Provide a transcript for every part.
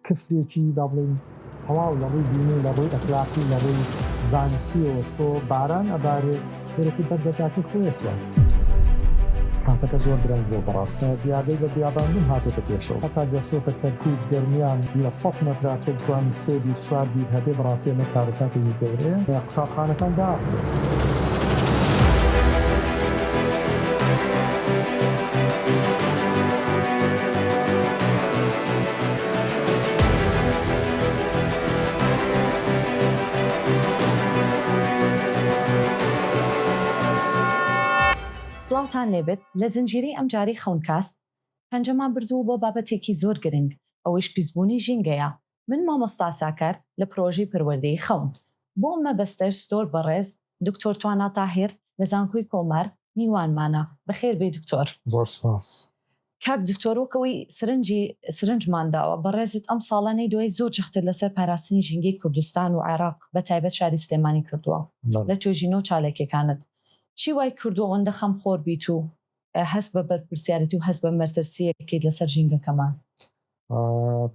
کفرێکی با بڵێین تەواو لە ڕووی دینی لە ڕووی ئەخلاقی لە ڕووی زانستیەوە تۆ باران ئەبارێ تێرەکەی بەر دەرگاکەی خۆیەشە کاتەکە زۆر درەنگ بۆ بەڕاست دیاردەی بە بیاباندن هاتۆتە پێشەوە هەتا گەشتۆتە کەرکوک گەرمیان لە سەد مەترا تۆ بتوانی سێ بیر چوار بیر هەبێ بەڕاستی ئەمە کارەساتێکی گەورەیە قوتابخانەکان داخرێ. سڵاوتان لێبێت لە زنجیرەی ئەمجارەی خەونکاست پەنجەمان بردوو بۆ بابەتێکی زۆر گرنگ ئەوەیش پیسبوونی ژینگەیە من مامۆستا ساکار لە پرۆژەی پەروەردەی خەون بۆ مەبەستەش زۆر بەڕێز دکتۆر توانا تاهیر لە زانکۆی کۆمار میوانمانە بەخێربێی دکتۆر. زۆر سوپاس کاک دکتۆر وەک ئەوەی سرنجی سرنجمان داوە بەڕێزت ئەم ساڵە نەیدۆی زۆر جەختت لەسەر پاراستنی ژینگەی کوردستان و عێراق بە تایبەت شاری سلێمانی کردووە لە توێژینەو چاالکێکانت چی وای کردووە ئەوەندە خەمخۆر بیت و هەست بە بەرپرسیارێتی و هەست بە مەرترسییەک بکەیت لەسەر ژینگەکەمان؟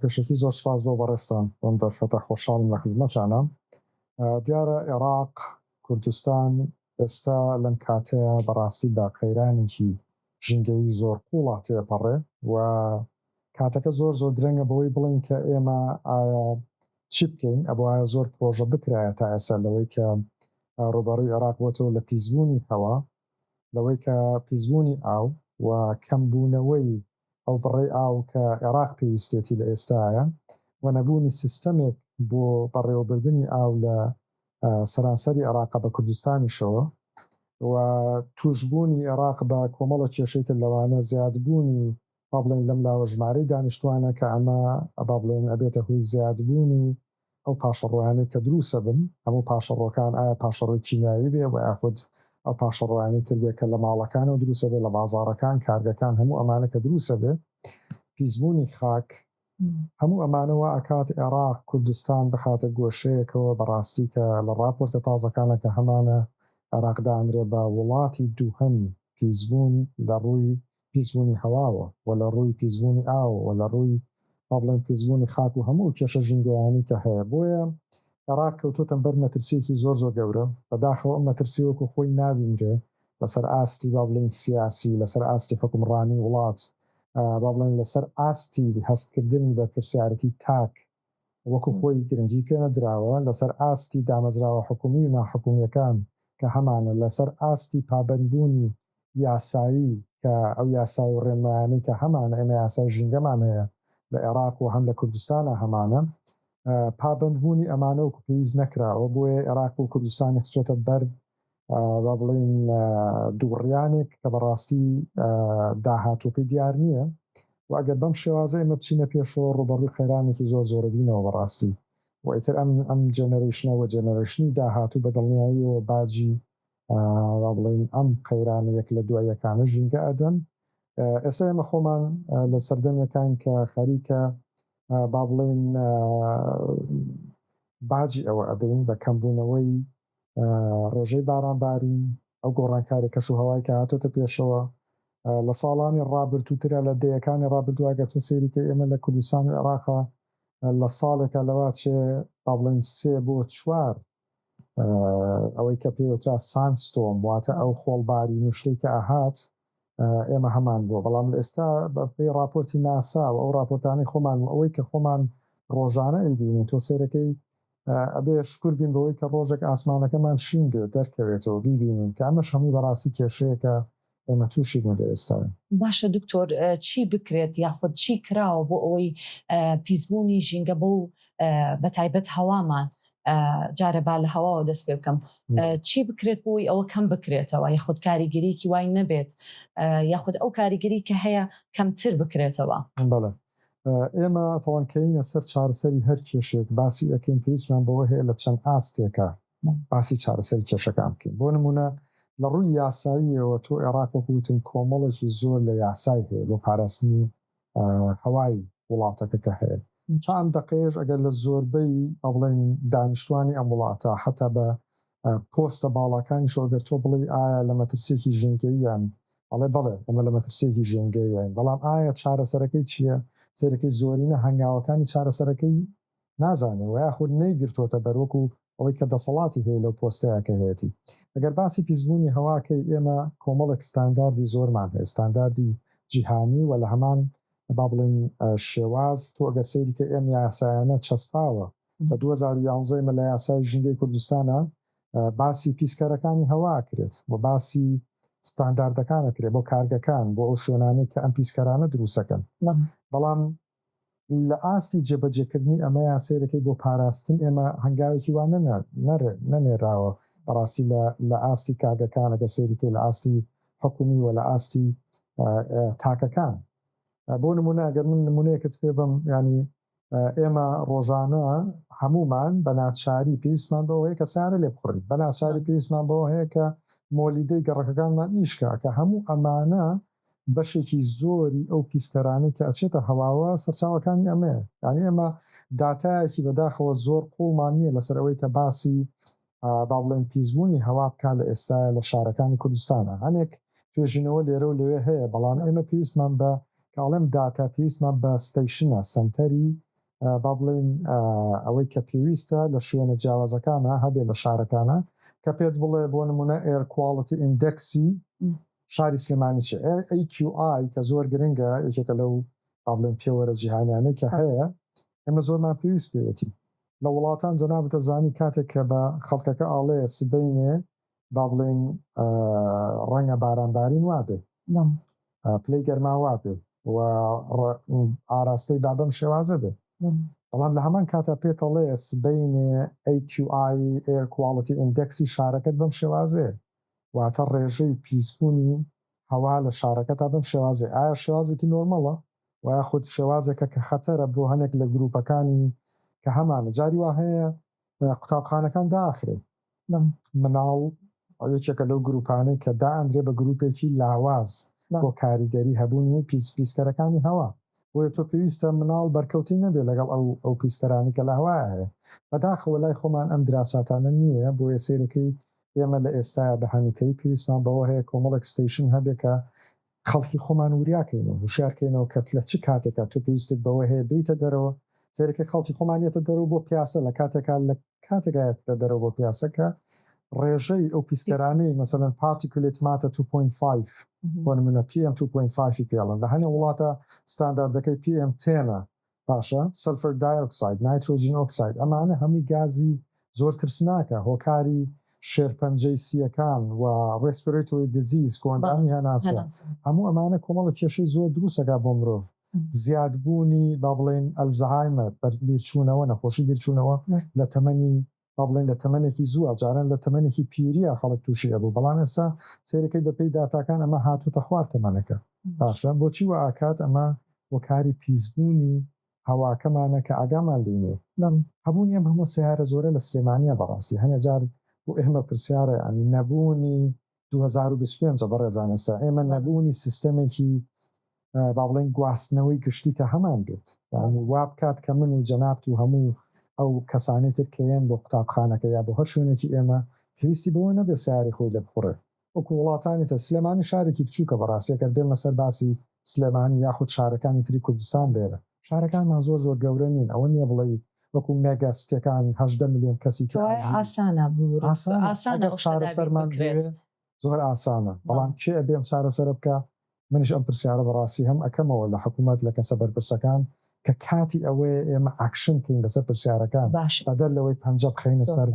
پێشەکی زۆر سوپاس بۆ بەڕێزتان بەم دەرفەتە خۆشحاڵم لە خزمەتانە دیارە عێراق کوردستان ئێستا لەم کاتەیە بەڕاستیدا قەیرانێکی ژینگەیی زۆر قوڵە تێپەڕێ و کاتەکە زۆر زۆر درەنگە بەوەی بڵێین کە ئێمە ئایا چی بکەین ئەبوایە زۆر پرۆژە بکرایە تا ئێسا لەوەی کە ڕوبەڕوی عێراق بۆتەوە لە پیسبوونی هەوا لەوەی کە پیسبوونی ئاو و کەمبوونەوەی ئەو بڕەی ئاو کە عێراق پێویستێتی لە ئێستایە و نەبوونی سیستەمێک بۆ بەڕێوەبردنی ئاو لە سەرانسەری عێراقە بە کوردستانیشەوە و تووشبوونی عێراق بە کۆمەڵە کێشەی تر لەوانە زیادبوونی با بڵێن لەم لاوە ژمارەی دانیشتوانە کە ئەمە با بڵێن ئەبێتە هۆی زیادبوونی ئەو پاشەڕۆیانەی کە دروسە بن هەموو پاشەڕۆکان ئایا پاشەڕۆی کیمیاوی بێ وە یاخود ئەو پاشەڕۆیانەی تر بێ کە لە ماڵەکانەوە دروسە بێ لە بازاڕەکان کارگەکان هەموو ئەمانە کە دروسە بێ پیسبوونی خاک هەموو ئەمانە وا ئەکات عێراق کوردستان بخاتە گۆشەیەکەوە بەڕاستی کە لە ڕاپۆرتە تازەکانە کە هەمانە عێراق دانرێ بە وڵاتی دووهەم پیسبوون لە ڕووی پیسبوونی هەواوە و لە ڕووی پیسبوونی ئاو و لە ڕووی با بڵێین پیسبوونی خاک و هەموو ئەو کێشە ژینگەیانی کە هەیە بۆیە عێراق کەوتۆتە بەر مەترسیەکی زۆر زۆر گەورە بەداخەوە ئەم مەترسی وەکو خۆی نابینرێ لەسەر ئاستی با بڵێین سیاسی، لەسەر ئاستی حوکمڕانی وڵات، با بڵێین لەسەر ئاستی هەستکردنی بەرپرسیارەتی تاک وەکو خۆی گرنگی پێنەدراوە، لەسەر ئاستی دامەزراوە حکومی و ناحکومیەکان کە هەمانە، لەسەر ئاستی پابەندبوونی یاسایی کە ئەو یاسای و ڕێنمایانەی کە هەمانە، ئێمە یاسای ژینگەمان هەیە لە ئێراق و هەم لە کوردستانا هەمانە، پابەندبوونی ئەمانە وەکو پێویست نەکراوە، بۆیە ئێراق و کوردستانی خستووەتە بەر با بڵێین دووڕیانێک کە بەڕاستی داهاتووەکەی دیار نییە و ئەگەر بەم شێوازە ئێمە بچینە پێشەوە ڕوبەڕووی قەیرانێکی زۆر زۆرەبینەوە بەڕاستی و ئیتر ئەم ئەم جەنەرشنەوە جەنەرشنی داهاتوو بە دڵنیاییەوە باجی با بڵێن ئەم قەیرانە یەک لە دوایەکانە ژینگە ئەدەن ئێستا ئێمە خۆمان لە سەردەمێکان کە خەریکە با بڵێن باجی ئەوە ئەدەین بە کەمبوونەوەی ڕێژەی بارانبارین، ئەو گۆڕانکاری کەشوهەوای کە هاتۆتە پێشەوە لە ساڵانی ڕابردووترە لە دەیەکانی ڕابردوو ئەگەر تۆ سەیری کەی ئێمە لە کوردستان و عێراقا لە ساڵێکا لەوا چێ با بڵێین سێ بۆ چوار ئەوەی کە پێوترا ساند ستۆم واتە ئەو خۆڵبارین و شتەی کە ئەهات ئێمە هەمان بووە بەڵام لە ئێستا بە پێی ڕاپۆرتی ناسا و ئەو ڕاپۆرتانەی خۆمان و ئەوەی کە خۆمان ڕۆژانە ئەیبینین تۆ سەیرەکەی ئەبێ شکور بین بەوەی کە ڕۆژێک ئاسمانەکەمان شین بێ دەرکەوێتەوە بیبینین کە ئەمەش هەمووی بەڕاستی کێشەیەکە ئێمە تووشی بووین لە ئێستاین. باشە دکتۆر چی بکرێت یاخود چی کراوە بۆ ئەوەی پیسبوونی ژینگە بەو بەتایبەت هەوامان جارێ با لە هەواوە دەست پێ بکەم چی بکرێت بۆی ئەوە کەم بکرێتەوە یاخود کاریگەریکی وای نەبێت یاخود ئەو کاریگەری کە هەیە کەمتر بکرێتەوە بەڵێ ئێمە تەوانکەینە سەر چارەسەری هەر کێشێک باسی ئەەکەین پێویستمان بەوە هەیە لە چەند ئاستێکە باسی چارەسەری کێشەکان بکەین بۆ نمونە لە ڕووی یاساییەوە تۆ عێراق وەکوتم کۆمەڵێکی زۆر لە یاسای هەیە بۆ پاراستنی هەوای وڵاتەکە کە هەیە تا ئەم دەقەیەش ئەگەر لە زۆربەی ئەبڵێن دانیشتوانی ئەم وڵاتە حەتا بە پۆستە باڵاکانیشەوە گەر تۆ بڵێی ئایا لە مەترسیەکی ژینگەییان ئەڵێ بەڵێ ئەمە لە مەترسیەکی ژینگەیین بەڵام ئایا چارەسەرەکەی چییە سەیرەکەی زۆرینە هەنگاوەکانی چارەسەرەکەی نازانێ وە یاخود نەیگرتۆتە بەر وەکو ئەوەی کە دەسەڵاتی هەیە لەو پۆستەیا کە هەیەتی ئەگەر باسی پیسبوونی هەوا کەی ئێمە کۆمەڵێک ستانداردی زۆرمان هەیە ستانداردی جیهانی وە لە هەمان با بڵێین شێواز تۆ گەر سەیری کەی ئەم یاسایانە چەسپاوە لە دوو هەزار و یانزە ئێمە لە یاسای ژینگەی کوردستانا باسی پیسکەرەکانی هەوا ئەکرێت وە باسی ستانداردەکان ئەکرێ بۆ کارگەکان بۆ ئەو شوێنانەی کە ئەم پیسکەرانە دروست ئەکەن بەڵام لە ئاستی جێبەجێکردنی ئەمەیا سەیرەکەی بۆ پاراستن ئێمە هەنگاوێکی وا نەنێراوە بەڕاستی لە ئاستی کارگەکان ئەگەر سەیریکەی لە ئاستی حکومی و لە ئاستی تاکەکان بۆ نمونە ئەگەر من نمونەیەکت پێ بم ینی ئێمە ڕۆژانە هەمومان بە ناچاری پێویستمان بەوە هەیە کە سارە لێ بخڕین بە ناچاری پێویستمان بەوە هەیە کە مۆلیدەی گەڕەکەکانمان ئیشکە کە هەموو ئەمانە بەشێکی زۆری ئەو پیسکەرانەی کە ئەچێتە هەواوە سەرچاوەکانی ئەمەیە یانی ئێمە داتایەکی بەداخەوە زۆر قوڵمان نیە لەسەر ئەوەی کە باسی با بڵێن پیسبوونی هەوا بکا لە ئێستایا لە شارەکانی کوردستانا هەنێک توێژینەوە لێرە و لەوێ هەیە بەڵام ئێمە پێویستمان بە کە ئەڵێم داتا پێویستمان بە ستەیشنە سەنتەری با بڵێن ئەوەی کە پێویستە لە شوێنە جیاوازەکانە هەبێ لە شارەکانە کە پێت بڵێ بۆ نمونە ئێرکواڵتی ئیندەکسی شاری سلێمانی چ AQI کە زۆر گرنگە یەکێکە لەو با بڵێن پێوەرە جیهانیانەی کە هەیە ئێمە زۆرمان پێویست پێیەتی لە وڵاتان جەنابت دەزانی کاتێک کە بە خەڵکەکە ئاڵێ سبەینێ با بڵێن ڕەنگە باران بارین وابێ پلەی گەرما وابێ و ئاراستەی با بەم شێوازە بێ بەڵام لە هەمان کاتا پێتەڵێ سبەینێ AQI Air Quality Indexی شارەکەت بەم شێوازێ واتە ڕێژەی پیسبوونی هەوا لە شارەکەتە بەم شێوازەی ئایا شێوازێکی نۆرماڵە وە یاخود شێوازێکە کە خەتەرە بۆ هەنێک لە گروپەکانی کە هەمانە جاری وا هەیە قوتابخانەکان داخرێ مناڵ یەکێکە لەو گروپانەی کە دائەندرێ بە گروپێکی لاواز بۆ کاریگەری هەبوونی پیس پیسکەرەکانی هەوا بۆیە تۆ پێویستە مناڵ بەرکەوتەی نەبێ لەگەڵ ئەو ئەو پیسکەرانی کە لە هەوایە هەیە بەداخەوە لای خۆمان ئەم دراساتانە نییە بۆیە سەیرەکەی ئێمە لە ئێستایا بە هەنووکەیی پێویستمان بەوە هەیە کۆمەڵێک ستەیشن هەبێ کە خەڵکی خۆمان وریا کەین و هوشیار کەینەوە کە لە چ کاتێکا تۆ پێویستت بەوە هەیە بێیتە دەرەوە، سەیرەکەی خەڵکی خۆمان یەتە دەرەوە بۆ پیاسە لە کاتێکا لە کاتێکا یەتە دەرەوە بۆ پیاسە کە ڕێژەی ئەو پیسکەرانەی مەسەلەن پارتیکولێت ماتە 2.5 بۆ نمونە PM 2.5 ی پێڵن لە هەنێ وڵاتە ستانداردەکەی PM 10ە باشە سەلفەر دایۆکساید نایترۆجین ئۆکساید ئەمانە هەمووی گازی زۆر ترسناکە هۆکاری شێرپەنجەی سییەکان و ڕێسپێرەیتۆری دزیز کۆئەندامی هەناسە هەموو ئەمانە کۆمەڵە کێشەی زۆر دروستەکە بۆ مرۆڤ زیادبوونی با بڵێین ئەلزەهایمەر بیرچوونەوە نەخۆشی بیرچوونەوە لە تەمەنی با بڵێین لە تەمەنێکی زووە، جاران لە تەمەنێکی پیرییە خەڵک تووشی ئەبوو، بەڵام ئێستا سەیرەکەی بەپێی داتاکان ئەمە هاتووتە خوار تەمەنەکە. باشە بۆچی وائەکات؟ ئەمە هۆکاری پیسبوونی هەواکەمانە کە ئاگامان لێی نییە. نەم، هەبوونی ئەم هەموو سەیارە زۆرە لە سلێمانییە بەڕاستی هەنێ جار بۆ ئێمە پرسیارە، یانی نەبوونی دوو هەزار و بیست و پێنج بەڕێزان ئێستا ئێمە نەبوونی سیستەمێکی با بڵێن گواستنەوەی گشتی کە هەمان بێت یعنی وا بکات کە من و جەنابت و هەموو ئەو کەسانی تر کە یەن بۆ قوتابخانەکە یا بۆ هەر شوێنێکی ئێمە پێویستی بەوە نەبێت سەیارەی خۆی لێ بخوڕێت وەکو وڵاتانی تر سلێمانی شارێکی بچووکە بەڕاستی ئەگەر بێمە سەر باسی سلێمانی یاخود شارەکانی تری کوردستان لێرە. شارەکانمان زۆر زۆر گەورە نین ئەوە نیە بڵێی وەکو مێگا سیتیەکان هەژدە ملیۆن کەسی تیا ئەژی. کەوایە ئاسانە بوورە ئاسانە ئەو شتە دابین بکرێت. زۆر ئاسانە بەڵام کێ ئەبێ ئەم چارەسەرە بکا منیش ئەم پرسیارە بەڕاستی هەم ئەکەمەوە لە حکومەت لە کەسە بەرپرسەکان کە کاتی ئەوەیە ئێمە ئاکشن کەین لەسەر پرسیارەکان باشە بەدەر لەوەی پەنجە بخەینە سەر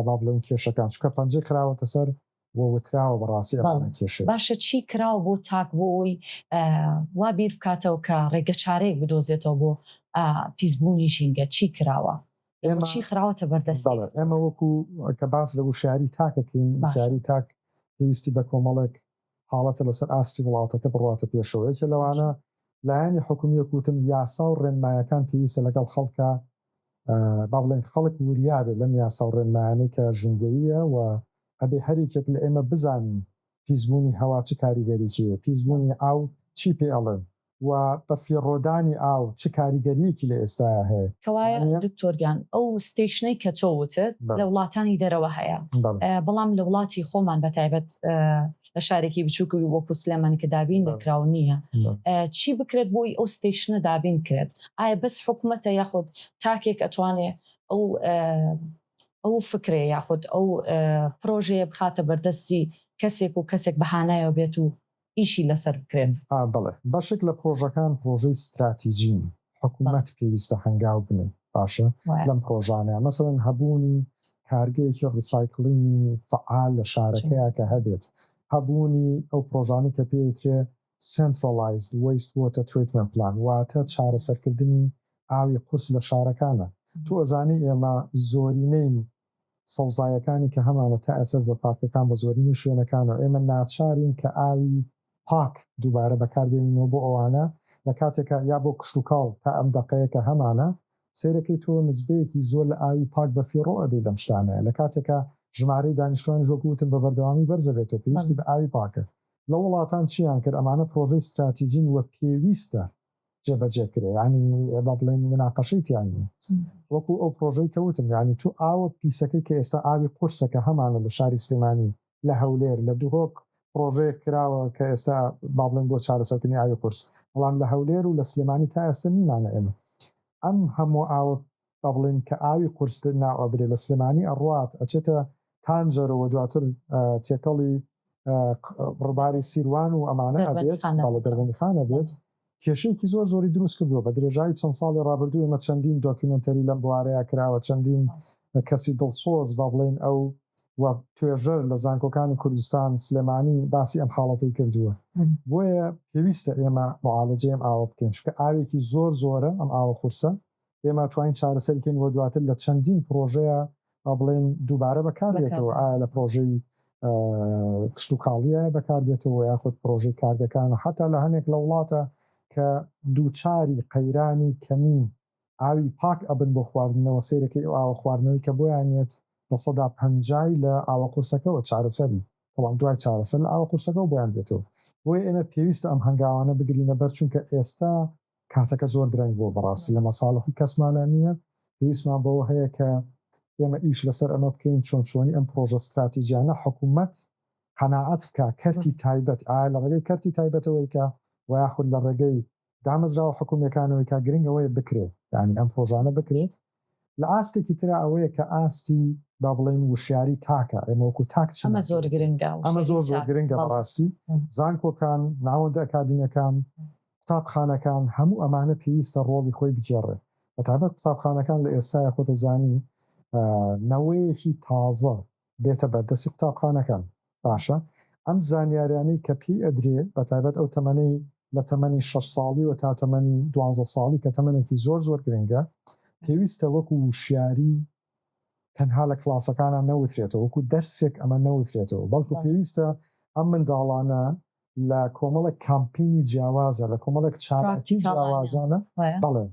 با بڵێین کێشەکان چونکە پەنجەی خراوەتە سەر و وتراوە بەڕاستی ڕانە کێشێ. باشە چی کراوە بۆ تاک بۆ ئەوەی وا بیر بکاتەوە کە ڕێگە چارەیەک بدۆزێتەوە بۆ پیس بوونی ژینگە چی کراوە ئێمە چی خراوەتە بەر دەستی؟ بەڵێ ئێمە وەکو کە باس لە وشیاری تاک دەکەین وشیاری تاک پێویستی بە کۆمەڵێک حاڵەتە لەسەر ئاستی وڵاتەکە بڕواتە پێشەوە یەکێ لەوانە لایەنی حکومی وەک وتم یاسا و ڕێنمایەکان پێویستە لەگەڵ خەڵکە با بڵێن خەڵک وریا بێت لەم یاسا و ڕێنمایانەی کە ژینگەییە و ئەبێ هەر یەکێک لە ئێمە بزانین پیسبوونی هەوا چ کاریگەریی هەیە، پیسبوونی ئاو چی پێ ئەڵێن و بەفیڕۆدانی ئاو چ کاریگەرییەکی لە ئێستایا هەیە. کەوایە دکتۆر گیان ئەو ستەیشنەی کە تۆ وتت لە وڵاتانی دەرەوە هەیە، بەڵام لە وڵاتی خۆمان بە تایبەت لە شارێکی بچووک وەکوو سلێمانی کە دابین نەکراو نییە، چی بکرێت بۆی ئەو ستەیشنە دابین کرێت؟ ئایا بەس حکومەتە یاخود تاکێک ئەتوانێ ئەو ئەو فکرەیە یاخود ئەو پرۆژەیە بخاتە بەردەستی کەسێک و کەسێک بەهانایەوە بێت و ئیشی لەسەر بکرێت. ئا بەڵێ، بەشێک لە پرۆژەکان پرۆژەی ستراتیجین، حکومەت پێویستە هەنگاو بنێت باشە لەم پرۆژانەیا، مەسەلەن هەبوونی کارگەیەکی ڕیسایکڵینی فەعال لە شارەکەیا کە هەبێت، هەبوونی ئەو پرۆژانەی کە پێی ئەوترێ Centralized Waste Water Treatment Plan، واتە چارەسەرکردنی ئاوی قورس لە شارەکانە، تۆ ئەزانی ئێمە زۆرینەی سەوزایەکانی کە هەمانە تا ئێسەش بە پارکەکان بە زۆرینەی شوێنەکانەوە ئێمە ناچارین کە ئاوی پاک دووبارە بەکار بێنینەوە بۆ ئەوانە لە کاتێکا یا بۆ کشتوکاڵ تا ئەم دەقەیە کە هەمانە سەیرەکەی تۆ نزبەیەکی زۆر لە ئاوی پاک بە فیڕۆ ئەدەی لەم شتانەیە لە کاتێکا ژمارەی دانیشتوانیش وەکو وتم بە بەردەوامی بەرزەبێتەوە پێویستی بە ئاوی پاکە لەو وڵاتان چیان کرد ئەمانە پرۆژەی ستراتیجین وە پێویستە جێبەجێ کرێ یانی با بڵێن مناقەشەی تیا نیە وەکو ئەو پرۆژەی کە وتم یانی تو ئاوە پیسەکەی کە ئێستا ئاوی قورسە کە هەمانە لە شاری سلێمانی لە هەولێر لە دهۆک پرۆژەیەک کراوە کە ئێستا با بڵێن بۆ چارەسەرکردنی ئاوی قورس بەڵام لە هەولێر و لە سلێمانی تا ئێستا نیمانە ئێمە ئەم هەموو ئاوە ئەبڵێن کە ئاوی قورس ناو ئەبرێ لە سلێمانی ئەڕوات ئەچێتە تانجەرۆ وە دواتر تێکەڵی ڕوباری سیروان و ئەمانە ئەبێت بەڵێ دەربەندی خان ئەبێت کێشەیەکی زۆر زۆری دروست کردووە بە درێژایی چەند ساڵی ڕابردوو ئێمە چەندین دۆکیومێنتەری لەم بوارەیە کراوە چەندین کەسی دڵسۆز با بڵێن ئەو و توێژەر لە زانکۆکانی کوردستان سلێمانی باسی ئەم حاڵەتی کردووە بۆیە پێویستە ئێمە معالەجەی ئەم ئاوە بکەین چونکە ئاوێکی زۆر زۆرە ئەم ئاوە قورسە ئێمە توانین چارەسەری کەین و دواتر لە چەندین پرۆژەیە با بڵێن دووبارە بەکارێتەوە ئایا لە پرۆژەی کشتتوکاڵیە بەکاردێتەوە یاخود پرۆژەی کارگەکان و حتا لە هەنێک لە وڵاتە کە دووچاری قەیرانی کەمی ئاوی پاک ئەبن بۆ خواردنەوە سیرەکەی ئەو ئاوە خواردنەوەی کە بۆیانێت لە سەدا پەنجای لە ئاوە قورسەکەەوە چارەسەری بەڵام دوای چارەسەر لە ئاوە قورسەکەەوە بۆیان دێتەوە بۆیە ئێمە پێویستە ئەم هەنگاوانە بگرینە بەر چونکە ئێستا کاتەکە زۆر درەنگ بووە بەڕاستی لە مەساڵحی کەسمانا نییە پێویستمان بەوە هەیە کە ئێمە ئیش لەسەر ئەمە بکەین چۆن چۆنی ئەم پڕۆژە ستراتیجیانە حکومەت قەناعەت بکا کەرتی تایبەت ئایا لە ڕێگەی کەرتی تایبەتەوەی کا وە یاخود لە ڕێگەی دامەزراوە حکومیەکانەوەی کا گرنگ ئەوەیە بکرێت یانی ئەم پڕۆژانە بکرێت لە ئاستێکی ترا ئەوەیە کە ئاستی با بڵێین وشیاری تاکە، ئێمە وەکو تاک چی ناسین؟ ئەمە زۆر زۆر گرنگە بەڕاستی، زانکۆکان، ناوەندە ئەکادیمیەکان، قوتابخانەکان، هەموو ئەمانە پێویستە ڕۆڵی خۆی بگێڕێ، بەتایبەت قوتابخانەکان لە ئێستایا خۆتەزانی نەوەیەکی تازە دێتە بەردەستی قوتابخانەکان باشە ئەم زانیاریانەی کە پێی ئەدرێ بەتایبەت ئەو تەمەنەی لە تەمەنی شەش ساڵیوە تا تەمەنی دوانزە ساڵی کە تەمەنێکی زۆر زۆر گرنگە پێویستە وەکو وشیاری تەنها لە کلاسەکانە نەوترێتەوە وەکو دەرسێک ئەمە نەوترێتەوە بەڵکو پێویستە ئەم منداڵانە لە کۆمەڵێک کامپینی جیاوازە لە کۆمەڵێک چالاکی جیاوازانە بەڵێ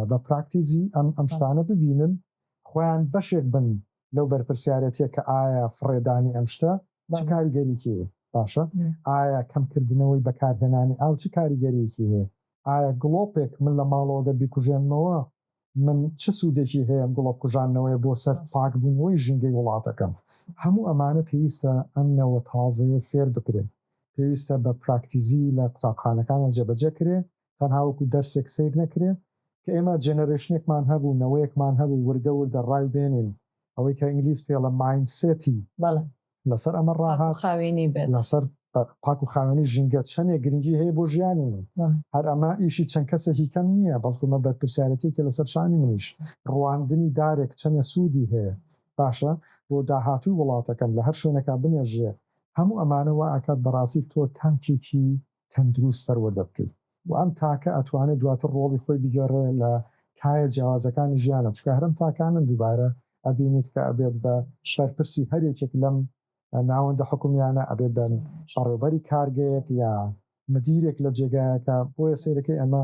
بە پراکتیزی ئەم ئەم شتانە ببینن خۆیان بەشێک بن لەو بەرپرسیارەتیە کە ئایا فڕێدانی ئەم شتە چ کاریگەریکی هەیە باشە ئایا کەمکردنەوەی بەکارهێنانی ئاو چ کاریگەریکی هەیە ئایا گڵۆپێک من لە ماڵەوەگە بیکوژێنمەوە من چ سوودێکی هەیە گڵۆپ کوژانەوەی بۆ سەر پاکبوونەوەی ژینگەی وڵاتەکەم هەموو ئەمانە پێویستە ئەم نەوە تازەیە فێر بکرێن پێویستە بە پراکتیزی لە قوتابخانەکانە جێبەجێ کرێ تەنها وەکو دەرسێک سەیر نەکرێ کە ئێمە جێنەرێشنێکمان هەبوو نەوەیەکمان هەبوو وردە وردە ڕای بێنین ئەوەی کە ئینگلیز پێ ڵە مایند سێتی بەڵێ لەسەر ئەمە پاک و ڕاهات خاوێنی بێت لەسەر بە پاک و خاوێنی ژینگە چەنێ گرنگی هەیە بۆ ژیانی من بەڵێ هەر ئەمە ئیشی چەند کەسێکی کەم نییە بەڵکو مە بەرپرسیارەتیەکێ لەسەر شانی منیش ڕواندنی دارێک چەنێ سوودی هەیە باشە بۆ داهاتووی وڵاتەکەم لە هەر شوێنێکا بنێژرێ هەموو ئەمانە وا ئەکات بەڕاستی تۆ تاکێکی تەندروست پەروەردە بکەی و ئەم تاکە ئەتوانێ دواتر ڕۆڵی خۆی بگێڕێ لە کایە جیاوازەکانی ژیانە چونکە هەرم تاکانەن دووبارە ئەبینیت کە ئەبێت بە بەرپرسی هەر یەکێک لەم ناوەندە حکومیانە ئەبێت بە بەڕێوبەری کارگەیەک یا مدیرێک لە جێگایەکە بۆیە سەیرەکەی ئەمە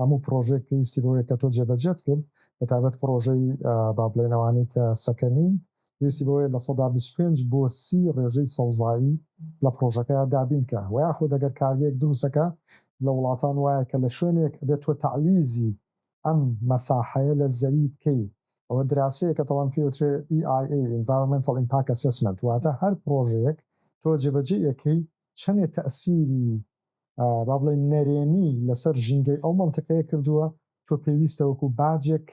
هەموو پڕۆژەیەک پێویستی بەوەیە کە تۆ جێبەجێت کرد بە تایبەت پڕۆژەی با بڵێین ئەوانەی کە سەکەنین پێویستی بەوەیە لە سەدا بیست و پێنج بۆ سی ڕێژەی سەوزایی لە پڕۆژەکەیا دابین کا وە یاخود ئەگەر کارگەیەک دروستە کە لە وڵاتان وایە کە لە شوێنێک ئەبێت تۆ تەعویزی ئەم مەساحەیە لە زەوی بکەی ئەوە دراسەیەکە تاڵان پێی وترێ EIA Environmental Impact Assessment واتە هەر پڕۆژەیەک تۆ جێبەجێی ئەکەی چەنێ تەئسیری با بڵێین نەرێنی لەسەر ژینگەی ئەو مەنتقەیە کردووە، تۆ پێویستە وەکو باجێک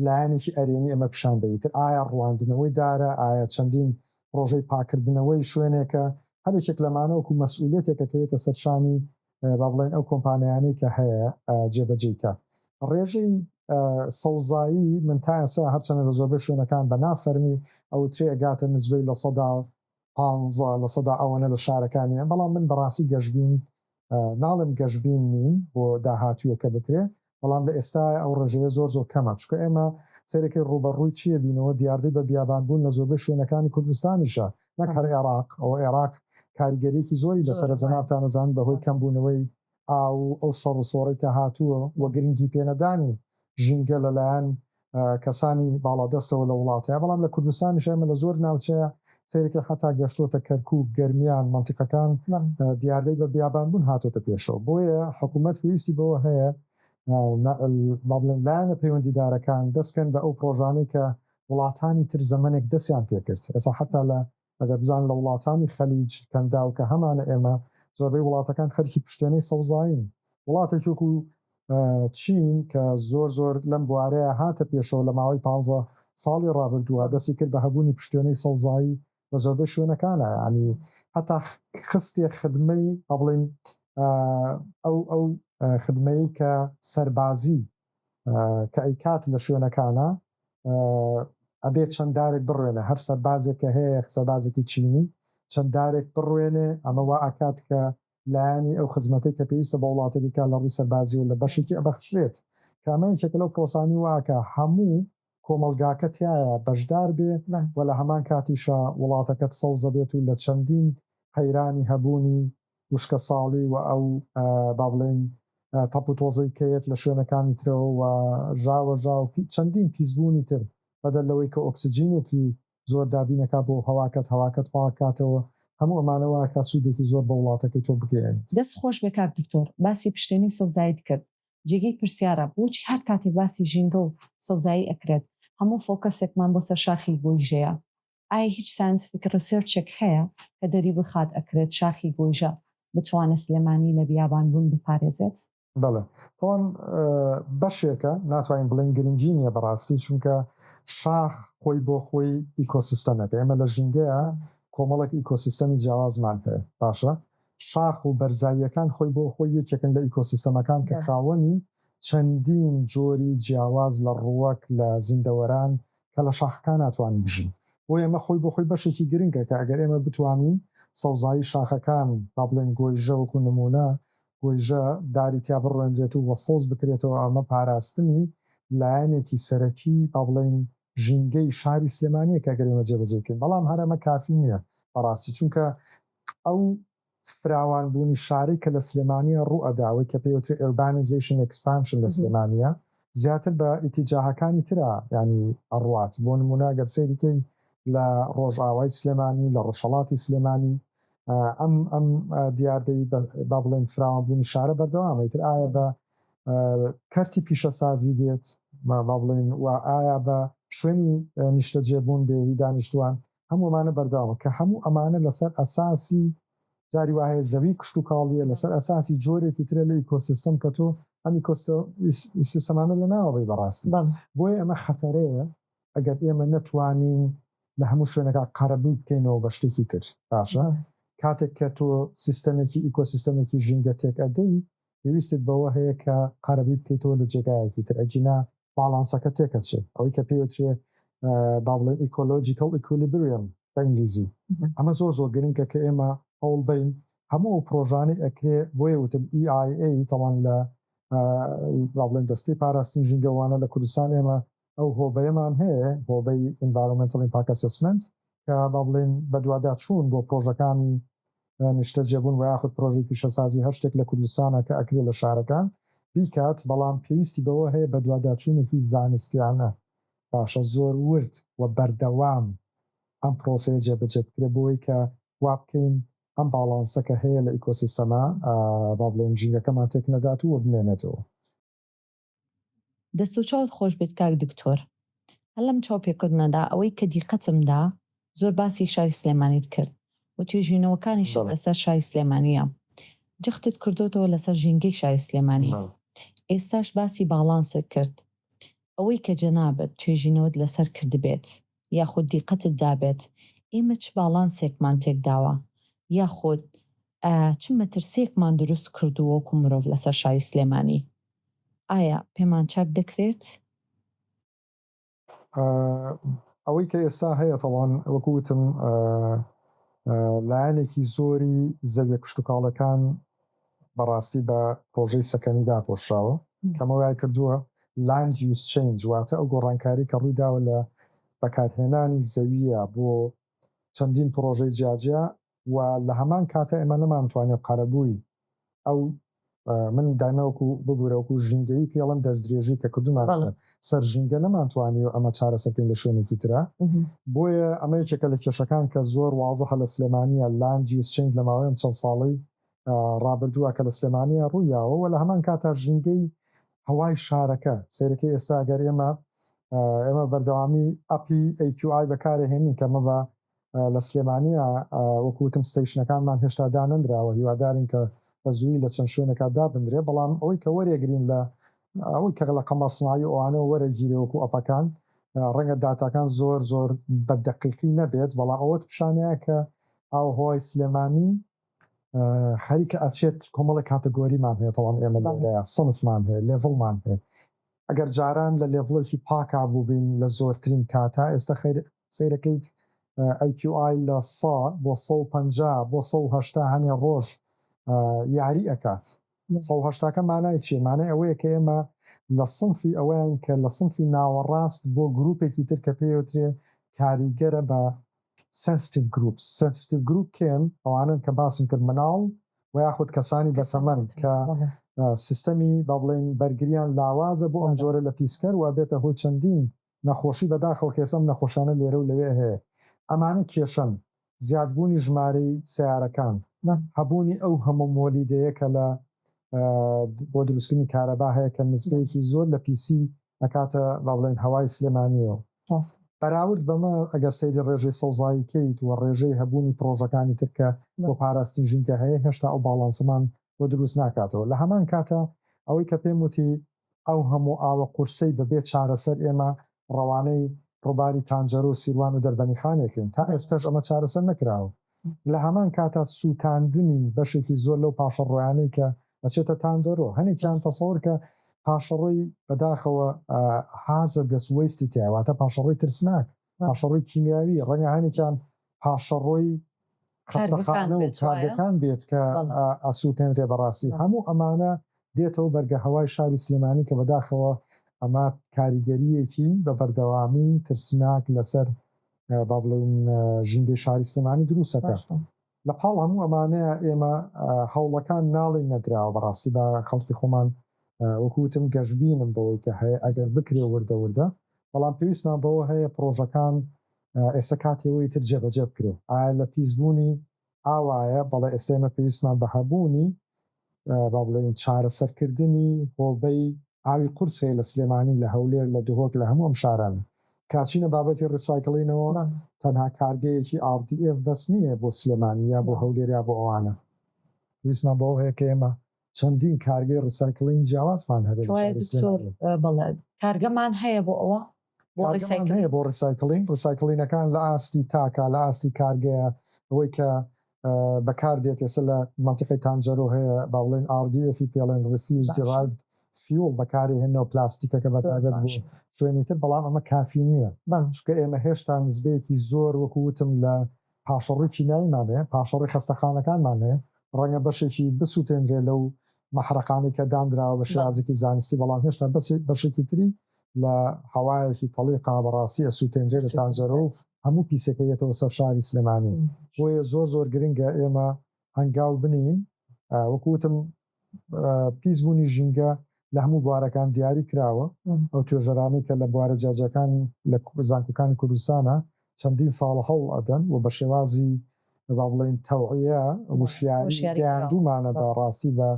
لایەنێکی ئەرێنی ئەمە پیشان بەی، ئیتر ئایا ڕواندنەوەی دارە، ئایا چەندین پڕۆژەی پاککردنەوەی شوێنێکە، هەر یەکێک لەمانە وەکو مەسئولیەتێک ئەکەوێتە سەر شانی با بڵێین ئەو کۆمپانیانەی کە هەیە جێبەجێی کات. ڕێژەی سەوزایی من تا ئێستا هەرچەندە لە زۆربەی شوێنەکان بە نا فەرمی ئەوترێ ئەگاتە نسبەی لە سەدا پانزە لە سەدا ئەوەنە لە شارەکانیە بەڵام من بەڕاستی گەشبین ناڵێم گەشبین نیم بۆ داهاتویە کە بکرێ بەڵام لە ئێستا ئەو ڕێژەیە زۆر زۆر کەمە چکە ئێمە سەرەکەی ڕوبەڕووی چیە بینەوە دیاردەی بە بیابان بوون لە زۆربەی شوێنەکانی کوردستانیشە نەک هەر عێراق ئەوە عێراق کاریگەریەکی زۆری لەسەرە جەنابتان ئەزانن بەهۆی کەم بوونەوەی ئاو و ئەو شەڕ و شۆڕەی کە هاتووە و گرنگی پێنەدانی ژینگە لە لایەن کەسانی باڵادەستەوە لە وڵات هەیە بەڵام لە کوردستانیش ئێمە لە زۆر ناوچەیە سەیرەکەی حەتا گەشتۆتە کەرکوک گەرمیان مەنتیقەکان دیاردەی بە بیابان بوون هاتۆتە پێشەوە بۆیە حکوومەت پێویستی بەوە هەیە با بڵێن لایەنە پەیوەندیدارەکان دەستکەن بە ئەو پرۆژانەی کە وڵاتانی تر زەمەنێک دەستیان پێکرد ئێستا حەتا لە ئەگەر بزان لە وڵاتانی خەلیج، کەنداو، کە هەمانە ئێمە، زۆربەی وڵاتەکان خەرکی پشتێنەی سەوزایین. وڵاتێکی وەکو چین کە زۆر زۆر لەم بوارەیە هاتە پێشەوە لە ماوەی پانزە ساڵی ڕابردووە دەستی کرد بە هەبوونی پشتێنەی سەوزایی لە زۆربەی شوێنەکانا یانی هەتا خستیە خدمەی با بڵێین ئەو ئەو خدمەی کە سەربازی کە ئەیکات لە شوێنەکانا ئەبێ چەند دارێک بڕوێنێ هەر سەربازێک کە هەیە سەربازێکی چینی چەند دارێک بڕوێنێ ئەمە وا ئەکات کە لایەنی ئەو خزمەتەی کە پێویستە بە وڵاتەکەی کا لە ڕووی سەربازی و لە بەشێکی ئەبەخشرێت کە ئەمە یەکێکە لەو پرۆسانەی وا ئەکا هەموو کۆمەڵگاکە تیایا بەشدار بێ و لە هەمان کاتیشا وڵاتەکەت سەوزە بێت و لە چەندین قەیرانی هەبوونی وشکەساڵی و ئەو با بڵێین تەپ و تۆزەی کە یەت لە شوێنەکانی ترەوە و ژاوەژا و چەندین پیسبوونی تر بەدەر لەوەی کە ئۆکسجینێکی زۆر دابین ئەکا بۆ هەواکەت هەواکەت پاک کاتەوە هەموو ئەمانە وا ئەکا سوودێکی زۆر بە وڵاتەکەی تۆ بگەیەنێت. دەست خۆش بێ کاک دکتۆر باسی پشتێنەی سەوزایت کرد جێگەی پرسیارە بۆچی هەر کاتێک باسی ژینگە و سەوزایی ئەکرێت هەموو فۆکەسێکمان بۆ سەر شاخی گۆیژەیە؟ ئایا هیچ ساینتفیک ڕیسێرچێک هەیە کە دەری بخات ئەکرێت شاخی گۆیژە بتوانێت سلێمانی لە بیابان بوون بپارێزێت؟ بەڵێ تاوان بەشێکە ناتوانین بڵێین گرنگی نیە بەڕاستی چونکە شاخ خۆی بۆ خۆی ئیکۆسیستەمێکە ئێمە لە ژینگەیە کۆمەڵێک ئیکۆسیستەمی جیاوازمان هەیە باشە شاخ و بەرزاییەکان خۆی بۆ خۆی یەکێکن لە ئیکۆسیستەمەکان کە خاوەنی چەندین جۆری جیاواز لە ڕووەک لە زیندەوەران کە لە شاخەکان ناتوانن بژین بۆیە ئەمە خۆی بۆ خۆی بەشێکی گرنگە کە ئەگەر ئێمە بتوانین سەوزایی شاخەکان با بڵێن گۆیژە وەکو نموونە گۆیژە داری تیا بڕوێنرێت و وە سەوز بکرێتەوە ئەمە پاراستنی لایەنێکی سەرەکی با بڵێن ژینگەی شاری سلێمانیە کە ئەگەر ئێمە جێبەجێی بکەین بەڵام هەر ئەمە کافی نیە بەڕاستی چونکە ئەو فراوان بوونی شاری کە لە سلێمانیە ڕوو ئەدا ئەوەی کە پێی ئەوترێ ئێوربانیزەیشن ئێکسپانشن لە سلێمانیە زیاتر بە ئیتیجاهەکانی ترا یانی ئەڕوات بۆ نموونە گەر سەیری کەی لە ڕۆژئاوای سلێمانی لە ڕۆژهەڵاتی سلێمانی ئەم ئەم دیاردەی با بڵێین فراوان بوونی شارە بەردەوامە ئیتر ئایا بە کەرتی پیشەسازی بێت با بڵێین وا ئایا بە شوێنی نیشتەجێ بوون بێ هی دانیشتوان هەموو ئەمانە بەرداوە کە هەموو ئەمانە لەسەر ئەساسی جاری وا هەیە زەوی کشتوکاڵیە لەسەر ئەساسی جۆرێکی ترە لە ئیکۆسیستەم کە تۆ ئەم ئیکۆسیستەمانە لە ناوە بەی بەڕاستی بۆیە ئەمە خەتەرەیە ئەگەر ئێمە نەتوانین لە هەموو شوێنەکە قەرەبووی بکەینەوە بە شتێکی تر باشە کاتێک کە تۆ سیستەمێکی ئیکۆسیستەمێکی ژینگە تێک ئەدەی پێویستت بەوە هەیە کە قەرەبووی بکەیتەوە لە جێگایەکی تر ئەگینا باڵانسەکە تێکەچێت ئەوەی کە پێوترێ با بڵێن ئیکۆلۆژیکەڵ ئیکولیبریەم بە ئینگلیزی ئەمە زۆر زۆر گرنگە کە ئێمە هەوڵ بین هەموو ئەو پرۆژانەی ئەکرێ بۆیە وتم EIA تاوان لە با بڵێن دەستەی پاراستنی ژینگەوانە لە کوردستان ئێمە ئەو هۆبەیەمان هەیە، هۆبەی Environmental Impact Assessment، کە با بڵێین بەدواداچوون بۆ پرۆژەکانی نیشتەجێبوون وەیاخود پرۆژەی پیشەسازی هەر شتێک لە کوردستانە کە ئەکرێ لە شارەکان بیکات، بەڵام پێویستی بەوە هەیە بەدواداچوونێکی زانستیانە باشە زۆر ورد و بەردەوام ئەم پرۆسەیە جێبەجێ بکرێ بۆی کە وا بکەین ئەم باڵانسە کە هەیە لە ئیکۆسیستەمە با بڵێین ژینگەکەمان تێک نەدات و بمێنێتەوە. دەست و چاوت خۆش بێت کاک دکتۆر هەر لەم چاوپێکەوتنەدا ئەوەی کە دیقەتم دا زۆر باسی شاری سلێمانیت کرد و توێژینەوەکانیشت لەسەر شاری سلێمانیە جەختت کردۆتەوە لەسەر ژینگەی شاری سلێمانی ئێستاش باسی باڵانست کرد ئەوەی کە جەنابت توێژینەوەت لەسەر کردبێت یاخود دیقەتت دابێت ئێمە چ باڵانسێکمان تێکداوە یاخود چ مەترسیەکمان دروست کردووە وەکو مرۆڤ لەسەر شاری سلێمانی؟ ئایا پێمان چاک دەکرێت؟ ئەوەی کە ئێستا هەیە تاڵان وەکو وتم لایەنێکی زۆری زەویە کشتوکاڵەکان بەڕاستی بە پرۆژەی سەکەنی داپۆشراوە کەمە وای کردووە لاند یوز چنج واتە ئەو گۆڕانکاری کە ڕووی داوە لە بەکارهێنانی زەویە بۆ چەندین پرۆژەی جیاجیا و لە هەمان کاتە ئێمە نەمانتوانێ قەرەبووی ئەو من دایمە وەکو ببورە وەکو ژینگەیی پێڵم دەستدرێژی کە کردومانەتە سەر ژینگە نەمانتوانی و ئەمە چارەسەکەین لە شوێنێکی ترا بۆیە ئەمە یەکێکە لە کێشەکان کە زۆر وازەحە لە سلێمانە لاندی و سچنگ لە ماوەیەم چەند ساڵی ڕابردووە کە لە سلێمانە ڕوویاوە و لە هەمان کاتا ژینگەی هەوای شارەکە سیرەکە ئێستا گەر ئێمە ئێمە بەردەوامی ئەپی ئەیکیآی بەکارهێنین کەمە بە لە سلێمانییە وەکو وتم ستەیشنەکانمان هێشتا دانەنراوە هیوادارین کە بە زووی لە چەند شوێنێکا دابنرێ بەڵام ئەوەی کە وەرێگرین لە ئەوەی کە لە قەمەڕسناوی ئەوانەوە وەرەگیرێ وەکو ئەپەکان ڕەنگە داتاکان زۆر زۆر بە دەقیقی نەبێت بەڵام ئەوەت پیشانەیە کە ئاوهوای سلێمانی هەری کە ئەچێت کۆمەڵێک کاتەگۆریمان هەیە تەوان ئێمە لێرەیە سنفمان هەیە لێڤڵمان هەیە ئەگەر جاران لە لێڤڵێکی پاکا بووبین لە زۆرترین کاتا ئێستا خیر سیرەکەیت ئەیکیوئای لە سا بۆ سە و پەنجا بۆ سە و هەشتا هەنێ ڕۆژ یاری ئەکات سە و هەشتاکە مانای چیە مانای ئەوەیە کە ئێمە لە سنفی ئەوەیان کە لە سنفی ناوەڕاست بۆ گروپێکی تر کە پێوترێ کاریگەرە بە Sensitive Groups، Sensitive Group کێن؟ ئەوانەن کە باسم کرد منداڵ وە یاخود کەسانی بەتەمەن کە سیستەمی با بڵێین بەرگریان لاوازە بۆ ئەم جۆرە لە پیسکەر وە ئەبێتە هۆی چەندین نەخۆشی بەداخەوە کە ئێستا ئەم نەخۆشانە لێرە و لەوێ هەیە ئەمانە کێشەن زیاد بوونی ژمارەی سەیارەکان هەبوونی ئەو هەموو مۆلیدەیە کە لە بۆ دروستکردنی کارەبا هەیە کە نسبەیەکی زۆر لە پیسی ئەکاتە با بڵێین هەوای سلێمانیەوە. ڕاستە. بەراورد بەمە ئەگەر سەیری ڕێژەی سەوزایی کەیت و ڕێژەی هەبوونی پڕۆژەکانی تر کە بۆ پاراستنی ژینگە هەیە هێشتا ئەو باڵانسەمان بۆ دروست ناکاتەوە لە هەمان کاتا ئەوەی کە پێم وتی ئەو هەموو ئاوە قورسەی بە بێ چارەسەر ئێمە ڕەوانەی ڕوباری تانجەرو سیروان و دەربەنیخانێکین تا ئێستەش ئەمە چارەسەر نەکراوە لە هەمان کاتا سووتاندنی بەشێکی زۆر لەو پاشەڕۆیانەی کە ئەچێتە تانجەرۆ، هەنێکیان تەسەوەر کە پاشەڕۆی بەداخەوە Hazardous Waste-ی تیایە، واتە پاشەڕۆی ترسناک، پاشەڕۆی کیمیاوی، ڕەنگە هەنێکیان پاشەڕۆی خەستەخانە و کارگەکان بێت کە ئەسووتێنرێ، بەڕاستی هەموو ئەمانە دێتەوە بەرگە هەوای شاری سلێمانی کە بەداخەوە ئەمە کاریگەرییەکی بە بەردەوامی ترسناک لەسەر با بڵێین ژینگەی شاری سلێمانی دروستەکە لە پاڵ هەموو ئەمانەیە ئێمە هەوڵەکان ناڵین نەدراوە بەڕاستی بە خەڵکی خۆمان وەکوتم گەشببینم بەوەی کە هەیە ئەگەر بکرێ وردە وردە بەڵام پێویستمان بەوە هەیە پرۆژەکان ئێستا کاتێەوەی تر جێبەجێ بکرێ ئایا لە پیسبوونی ئاوایە، بەڵێ ئێستا ئێمە پێویستمان بە هەبوونی با بڵێین چارەسەرکردنی هۆبەی ئاوی قورس هەیە لە سلێمانی، لە هەولێر، لە دهۆک، لە هەموو ئەم شارانە. کە چینە بابەتی ڕیسایکڵینەوە، تەنها کارگەیەکی ئاڕ دی ئێف بەس نییە بۆ سلێمانی یا بۆ هەولێر یا بۆ ئەوانە. پێویستمان بەوە هەیە کە ئێمە چەندین کارگەی ڕیسایکلینی جیاوازمان هەبێت لە شاری سلێمانی. کەوایە دکتۆر بەڵێ کارگەمان هەیە بۆ ئەوە؟ کارگەمان هەیە بۆ ڕیسایکلین، ڕیسایکلینەکان لە ئاستی تاکە، لە ئاستی کارگەیە، ئەوەی کە بەکار دێت ئێستا لە مەنتیقەی تانجەرۆ هەیە با بڵێین RDF-ی پێ ئەڵێن، Refuse Derived Fuel، بەکاری هێنەوە پلاستیکەکە بە تایبەت بۆ شوێنی تر، بەڵام ئەمە کافی نییە چونکە ئێمە هێشتا نسبەیەکی زۆر وەکو وتم لە پاشەڕۆی کیمیاییمان هەیە، پاشەڕۆی خەستەخانەکانمان هەیە، ڕەنگە بەشێکی بسووتێندرێت لەو مەحرەقانەی کە دانراوە بە شێوازێکی زانستی، بەڵام هێشتا بەشێکی تری لە هەوایەکی تەڵیقا بەڕاستی ئەسووتێندرێت لە تانجەرۆ و هەموو پیسەکە یەتەوە سەر شاری سلێمانی، بۆیە زۆر زۆر گرنگە ئێمە هەنگاو بنێین، وەکو وتم پیس بوونی ژینگە لە هەموو بوارەکان دیاری کراوە، ئەو توێژەرانەی کە لە بوارە جیاجیاکان لە زانکۆکانی کوردستانە چەندین ساڵە هەوڵ ئەدەن و بە شێوازی با بڵێین تەوعیە وشیاری گەیاندوومانە بە ڕاستی بە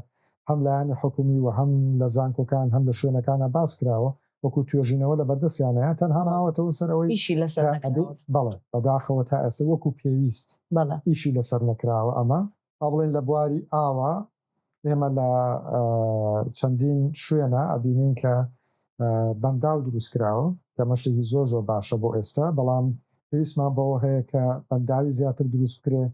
هەم لایەنی حکومی و هەم لە زانکۆکان هەم لە شوێنەکانا باس کراوە وەکو توێژینەوە لەبەردەستیانەیە تەنها ماوەتەوە سەر ئەوەی ئیشی لەسەر نەکراوە بەڵێ بەداخەوە تا ئێستا وەکو پێویست ئیشی لەسەر نەکراوە ئەمە با بڵێین لە بواری ئاوە ئێمە لە چەندین شوێنە ئەبینین کە بەنداو دروستکراوە کە مەشتێکی زۆر زۆر باشە بۆ ئێستا بەڵام پێویستمان بەوە هەیە کە بەنداوی زیاتر دروست بکرێ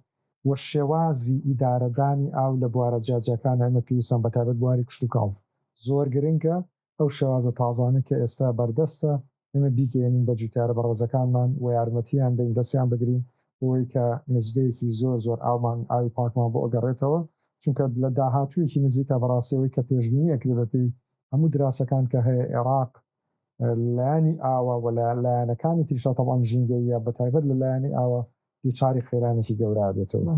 و شێوازی ئیدارەدانی ئاو لە بوارە جیاجیەکان ئەمە پێویستمان بەتابەت بواری کشتتوکاڵ زۆر گرنگە ئەو شێوازە تازانەی کە ئێستا بەردەستە ئێمە بیگەیەنین بە جوتیارە بەڕێزەکانمان و یارمەتییان بەین دەستیان بگرین بۆوەی کە نسبەیەکی زۆر زۆر ئاومان ئاوی پاکمان بۆ ئەگەڕێتەوە چونکە لە داهاتوویەکی نزیکا بەڕاستی ئەوەی کە پێشبینی ئەکرێ بە پێی هەموو دراسەکان کە هەیە ئێڕاق لە لایەنی ئاوە و لە لایەنەکانی تریشا تەبعەن ژینگەییە بە تایبەت لە لایەنی ئاوە دووچاری قەیرانێکی گەورە ئەبێتەوە.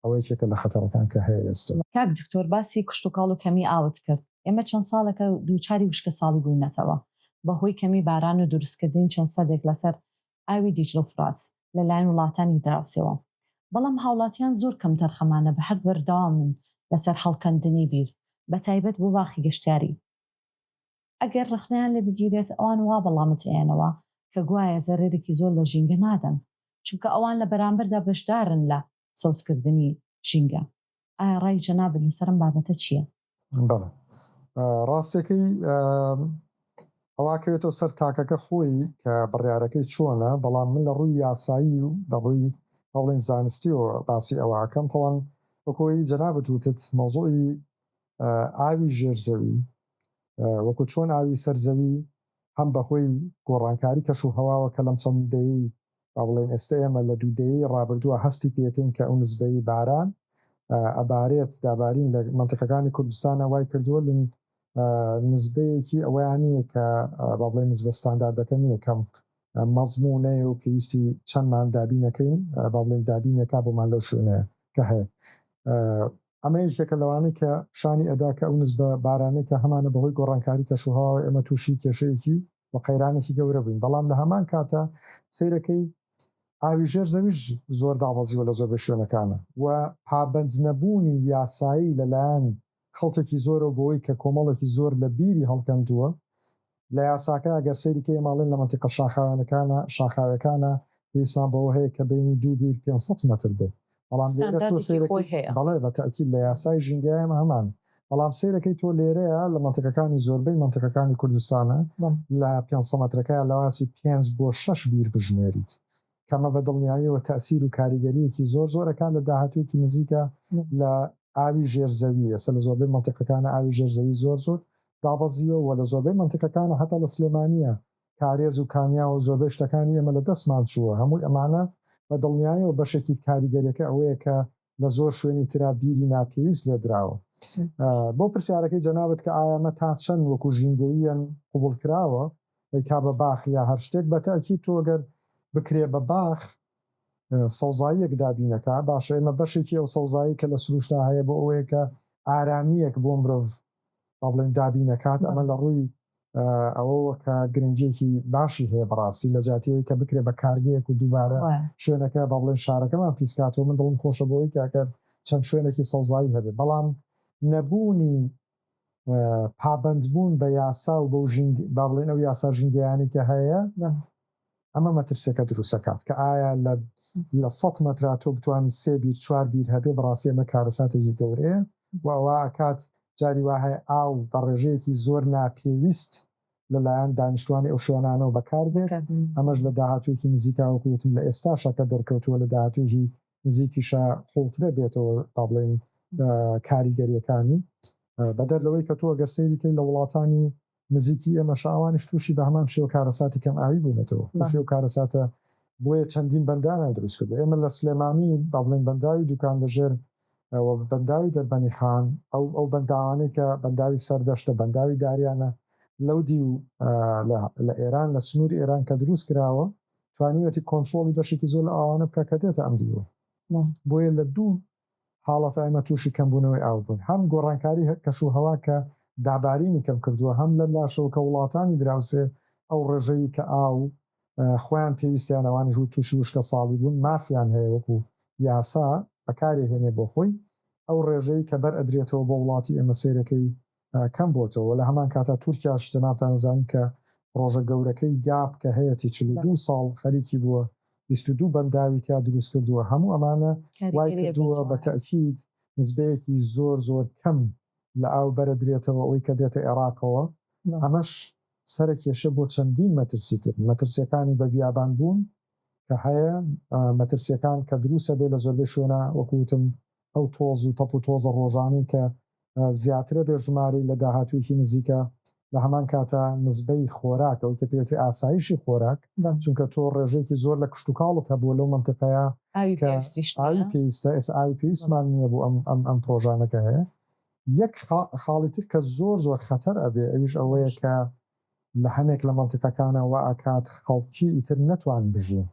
ئەوە یەکێکە لە خەتەرەکان کە هەیە ئێستا. کاک دکتۆر باسی کشتوکاڵ و کەمی ئاوت کرد، ئێمە چەند ساڵێکە دووچاری وشکەساڵی بووینەتەوە بەهۆی کەمی باران و دروستکردنی چەند سدێک لەسەر ئاوی دیجلە و فرات لەلایەن وڵاتانی دراوسێوە، بەڵام هاوڵاتیان زۆر کەمتەرخەمانە بە هەر بەردەوامن لەسەر هەڵکەندنی بیر بەتایبەت بۆ باخی گەشتیاری. ئەگەر ڕەخنەیان لێ بگیرێت ئەوان وا بەڵامت ئەیەنەوە کە گوایە زەرەرێکی زۆر لە ژینگە نادەن چونکە ئەوان لە بەرامبەردا بەشدارن لە سەوزکردنی ژینگە ئایا ڕای جەنابت لەسەر ئەم بابەتە چییە؟ بەڵێ ڕاستیەکەی ئەوا کەوێتەوە سەر تاکەکە خۆی کە بڕیارەکەی چۆنە بەڵام من لە ڕووی یاسایی و لە ڕووی هەوڵین زانستیەوە باسی ئەوەکەم تەوان وەکۆی جەنابەت وتت مەوزوعی ئاوی ژێرزەوی وەکو چۆن ئاوی سەر زەوی هەم بەهۆی گۆڕانکاری کەش و هەواوە کە لەم چەند دەیەی با بڵێین ئێستە ئێمە لە دوو دەیەی ڕابردووە هەستی پێکەین کە ئەو نسبەی باران ئەبارێت دابارین لە مەنتقەکانی کوردستانە وای کردووە لن نسبەیەکی ئەوەیان نییە کە با بڵێ نسبە ستانداردەکە نییە کەم مەزمونەیە و پێویستی چەندمان دابینەکەین با بڵێن دابینێکا بۆمان لەو شوێنەیە کە هەیە ئەمە یەکێکە لەوانەی کە پیشانی ئەدا کە ئەو نزبە بارانەی کە هەمانە بەهۆی گۆڕانکاری کەشوهەواوە ئێمە تووشی کێشەیەکی و قەیرانێکی گەورە بووین بەڵام لە هەمان کاتا سەیرەکەی ئاوی ژێر زەویش زۆر دابەزیوە لە زۆربەی شوێنەکانە و پابەند نەبوونی یاسایی لەلایەن خەڵکێکی زۆرەوە بۆوەی کە کۆمەڵێکی زۆر لە بیری هەڵکەندووە لە یاساکە ئەگەر سەیری کەی ئەمە ئەڵێن لە مەنتیقە شاخاویانەکانە شاخاوێکانە پێویستمان بەوە هەیە کە بەینی دوو بیر پێنج سەد مەتر بێ بەڵام لێرە تۆ سەیرەکەی بەڵێ بە تەئکید لە یاسای ژینگەی ئەمە هەمانە بەڵام سەیرەکەی تۆ لێرەیە لە مەنتیقەکانی زۆربەی مەنتیقەکانی کوردستانە لە پێنج سە مەترەکەیا لەوانسی پێنج بۆ شەش بیر بژمێریت کە ئەمە بە دڵنیاییەوە تەئسیر و کاریگەرییەکی زۆر زۆر ئەکات لە داهاتوویەکی نزیکا لە ئاوی ژێر زەوی، ئێستا لە زۆربەی مەنتیقەکانا ئاوی ژێر زەوی زۆر زۆر دابەزیوە و لە زۆربەی مەنتیقەکانا هەتا لە سلێمانییە کارێز و کانیاو و زۆربەی شتەکانی ئێمە لە دەستمان چووە، هەمووی ئەمانە بە دڵنیاییەوە بەشێکی کاریگەریەکە ئەوەیە کە لە زۆر شوێنی ترا بیری ناپێویست لێ دراوە. بۆ پرسیارەکەی جەنابت کە ئایا مە تا چەند وەکوو ژینگەییەن قبووڵ کراوە ئەی کا بە باخ یا هەر شتێک بە تەئکید تۆ گەر بکرێ بە باخ سەوزاییەک دابینە کا باشە ئێمە بەشێکی ئەو سەوزایەی کە لە سرووشتا هەیە بۆ ئەوەیە کە ئارامییەک بۆ مرۆڤ با بڵێین دابین ئەکات ئەمە لە ڕووی ئەوەوە کە گرنگیەکی باشی هەیە بەڕاستی لە جاتیەوەی کە بکرێ بە کارگەیەک و دووبارە شوێنەکە با بڵێن شارەکەمان پیسکاتەوە من دڵم خۆشە بۆی کاکەر چەند شوێنێکی سەوزایی هەبێ بەڵام نەبوونی پابندبوون بە یاسا و بەو ژینگ با بڵێن ئەو یاسا ژینگەیانی کە هەیە ئەمە مەترسیەکە دروستەکات کە ئایا لە لە سەد مەترا تۆ بتوانی سێ بیر چوار بیر هەبێ بەڕاستی ئەمە کارەساتێکی گەورەیە و ئەوە ئەکات جاری وا هەیە ئاو بە ڕێژەیەکی زۆر ناپێویست لەلایەن دانیشتوانی ئەو شوێنانەوە بەکار بێت ئەمەش لە داهاتوویەکی نزیکا وەکو وتم لە ئێستاشا کە دەرکەوتووە لە داهاتوویی نزیکیشا قووڵترە بێتەوە با بڵێین کاریگەریەکانی بەدەر لەوەی کە تۆ گەر سەیری کەی لە وڵاتانی نزیکی ئێمەشە ئەوانیش تووشی بە هەمان شێوە کارەساتی کەم ئاوی بوونەتەوە ئەو شێوە کارەساتە بۆیە چەندین بەنداویان دروست کردووە ئێمە لە سلێمانی با بڵێین بەنداوی دوکان لە ژێر و بەنداوی دەربەنی حان ئەو ئەو بەنداوانەی کە بەنداوی سەردەشتە بەنداوی داریانە لەو دیو لە لە ئێران لە سنووری ئێران کە دروست کراوە توانیوەتی کۆنترۆڵی بەشێکی زۆر لە ئاوانە بکە کە دێتە ئەم دیوە بۆیە لە دوو حاڵەتە ئێمە تووشی کەمبوونەوەی ئاو بووین، هەم گۆڕانکاری کەشوهەوا کە دابارینی کەم کردووە، هەم لەم لاشەوە کە وڵاتانی دراوسێ ئەو ڕێژەی کە ئاو خۆیان پێویستیان ئەوانیش تووشی وشکەساڵی بوون مافیان هەیە وەکوو یاسا بەکارێهێنێ بۆ خۆی ئەو ڕێژەی کە بەر ئەدرێتەوە بۆ وڵاتی ئێمە سێرەکەی کەم بۆتەوە وە لە هەمان کاتا تورکیاش جەنابتان ئەزانن کە پڕۆژە گەورەکەی گاپ کە هەیەتی چل و دوو ساڵ خەریکی بووە بیست و دوو بەنداوی تیا دروست کردووە هەموو ئەمانە وای کردووە بە تەئکید نسبەیەکی زۆر زۆر کەم لە ئاو بەرە درێتەوە ئەوەی کە دێتە ئێراقەوە ئەمەش سەرە کێشە بۆ چەندین مەترسی تر مەترسیەکانی بە بیابان بوون کە هەیە مەترسیەکان کە دروسە بێ لە زۆربەی شوێنە وەکو وتم ئەو تۆز و تەپ و تۆزە ڕۆژانەی کە زیاترە بێ ژمارەی لە داهاتوویەکی نزیکە لە هەمان کاتا نزبەی خۆراک ئەوەی کە پێوتری ئاسایشی خۆراک چونکە تۆ ڕێژەیەکی زۆر لە کشت و کاڵت هەبووە لەو مەنتقەیە کە ئاوی پێویستە ئێس ئاوی پێویستمان نییە بۆ ئەم ئەم ئەم پرۆژانەکە هەیە یەک خاڵی تر کە زۆر زۆر خەتەر ئەبێ ئەویش ئەوەیە کە لە هەنێک لە مەنتیقەکانا وائەکات خەڵکی ئیتر نەتوان بژین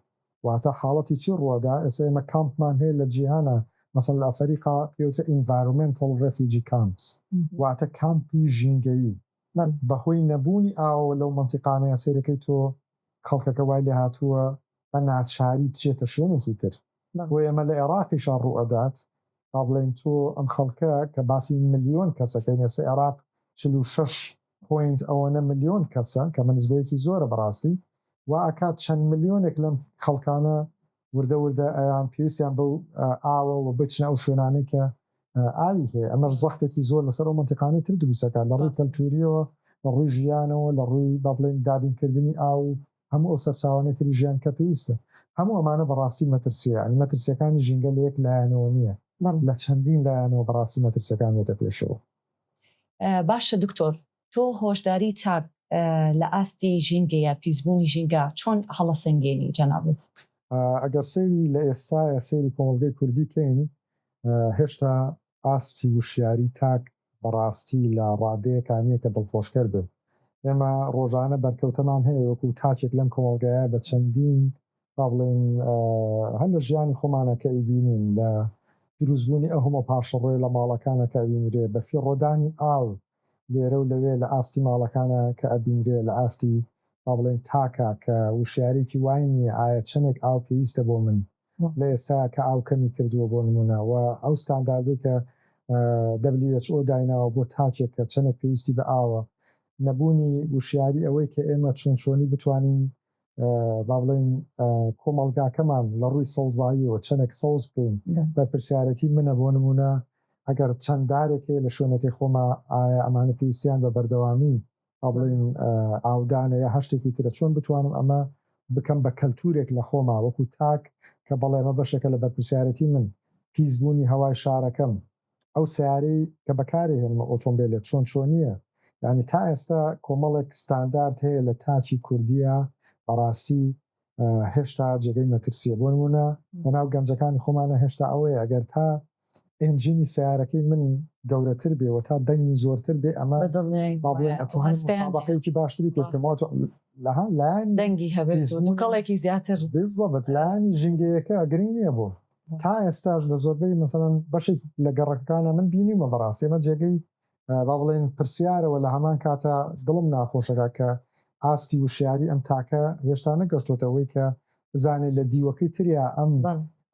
واتە حاڵەتی چی ڕوەدا ئێسە ئێمە کامپمان هەیە لە جیهانا مەسەن لە ئەفەریقا پێوترێ ئینڤارۆمێنتڵ ڕێفیوجی کامپس واتە کامپی ژینگەیی بە هۆی نەبوونی ئاوەوە لەو مەنتیقانەیا سەیرەکەی تۆ خەڵکەکە وای لێ هاتووە بە ناچاری بچێتە شوێنێکی تر بۆیە ئێمە لە ئێڕاقیشا ڕوئەدات با بڵێین تۆ ئەم خەڵکە کە باسی ملیۆن کەسەکەین ئێسە ئێڕاق چل و شەش پۆینت ئەوەنە ملیۆن کەسە کەمە نسبەیەکی زۆرە بەڕاستی وا ئەکات چەند ملیۆنێک لەم خەڵکانە وردە وردە ئەیان پێویستیان بەو ئاوە وە بچنە ئەو شوێنانەی کە ئاوی هەیە ئەمەش زەختێکی زۆر لەسەر ئەو منتیقانەی تر دروستەکە لە ڕووی کەلتوریەوە لە ڕووی ژیانەوە لە ڕووی با بڵێن دابینکردنی ئاو هەموو ئەو سەرچاوانەی تری ژیان کە پێویستە هەموو ئەمانە بەڕاستی مەترسیە ینی مەترسیەکانی ژینگە لە یەک لایەنەوە نییە لە چەندین لایەنەوە بەڕاستی مەترسیەکان دێتە پێشەوە باشە دکتۆر تۆ هۆشداری چاک لە ئاستی ژینگەیە پیسبوونی ژینگە چۆن هەڵەسەنگێنی جەنابت؟ ئەگەر سەیری لە ئێستایا سەیری کۆمەڵگەی کوردی کەین هێشتا ئاستی وشیاری تاک بەڕاستی لە ڕادەیەکا نیە کە دڵخۆشکەر بێت ئێمە ڕۆژانە بەرکەوتەمان هەیە وەکو تاکێک لەم کۆمەڵگایە بە چەندین با بڵێین هەر لە ژیانی خۆمانە کە ئەیبینین لە دروستبوونی ئەو هەموو پاشەڕۆیە لە ماڵەکانە کە ئەبینرێ، بە فیڕۆدانی ئاو لێرە و لەوێ لە ئاستی ماڵەکانە کە ئەبینرێ، لە ئاستی با بڵێین تاکە کە وشیاریی وای نییە ئایا چەندێک ئاو پێویستە بۆ من لە ئێستایا کە ئاو کەمی کردووە بۆ نموونە و ئەو ستانداردەی کە WHO دایناوە بۆ تاکێک کە چەندێک پێویستی بە ئاوە، نەبوونی وشیاری ئەوەی کە ئێمە چۆن چۆنی بتوانین با بڵێین کۆمەڵگاکەمان لە ڕووی سەوزاییەوە چەندێک سەوز بکەین بەرپرسیارەتی منە بۆ نمونە ئەگەر چەند دارێک هەیە لە شوێنەکەی خۆما ئایا ئەمانە پێویستیان بە بەردەوامی با بڵێین ئاودانە یا هەشتێکی ترە چۆن بتوانم ئەمە بکەم بە کەلتورێک لە خۆما وەکو تاک کە بەڵێمە بەشەکە لە بەرپرسیارەتی من پیسبوونی هەوای شارەکەم ئەو سەیارەی کە بەکاری هێنمە ئۆتۆمبێلە چۆن چۆنیە یانی تا ئێستا کۆمەڵێک ستاندارد هەیە لە تاکی کوردیا بەڕاستی هێشتا جێگەی مەترسیە بۆ نمونە لەناو گەنجەکانی خۆمانە هێشتا ئەوەیە ئەگەر تا ئێنجینی سەیارەکەی من گەورەتر بێ و تا دەنگی زۆرتر بێ ئەمە با بڵێن ئەتوانم مسابەقەیەکی باشتری پێ بکەم واتە لەها لایەنی دەنگی هەبێت و دووکەڵێکی زیاتر بالضبط لایەنی ژینگەیەکە گرنگ نییە بۆ تا ئێستاش لە زۆربەی مەسەلەن بەشێکی لە گەڕەکەکانا من بینیومە بەڕاستی ئەمە جێگەی با بڵێین پرسیارە وە لە هەمان کاتا دڵم ناخۆشەکا کە ئاستی وشیاری ئەم تاکە هێشتا نەگەشتۆتە ئەوەی کە بزانێت لە دیوەکەی تریا ئەم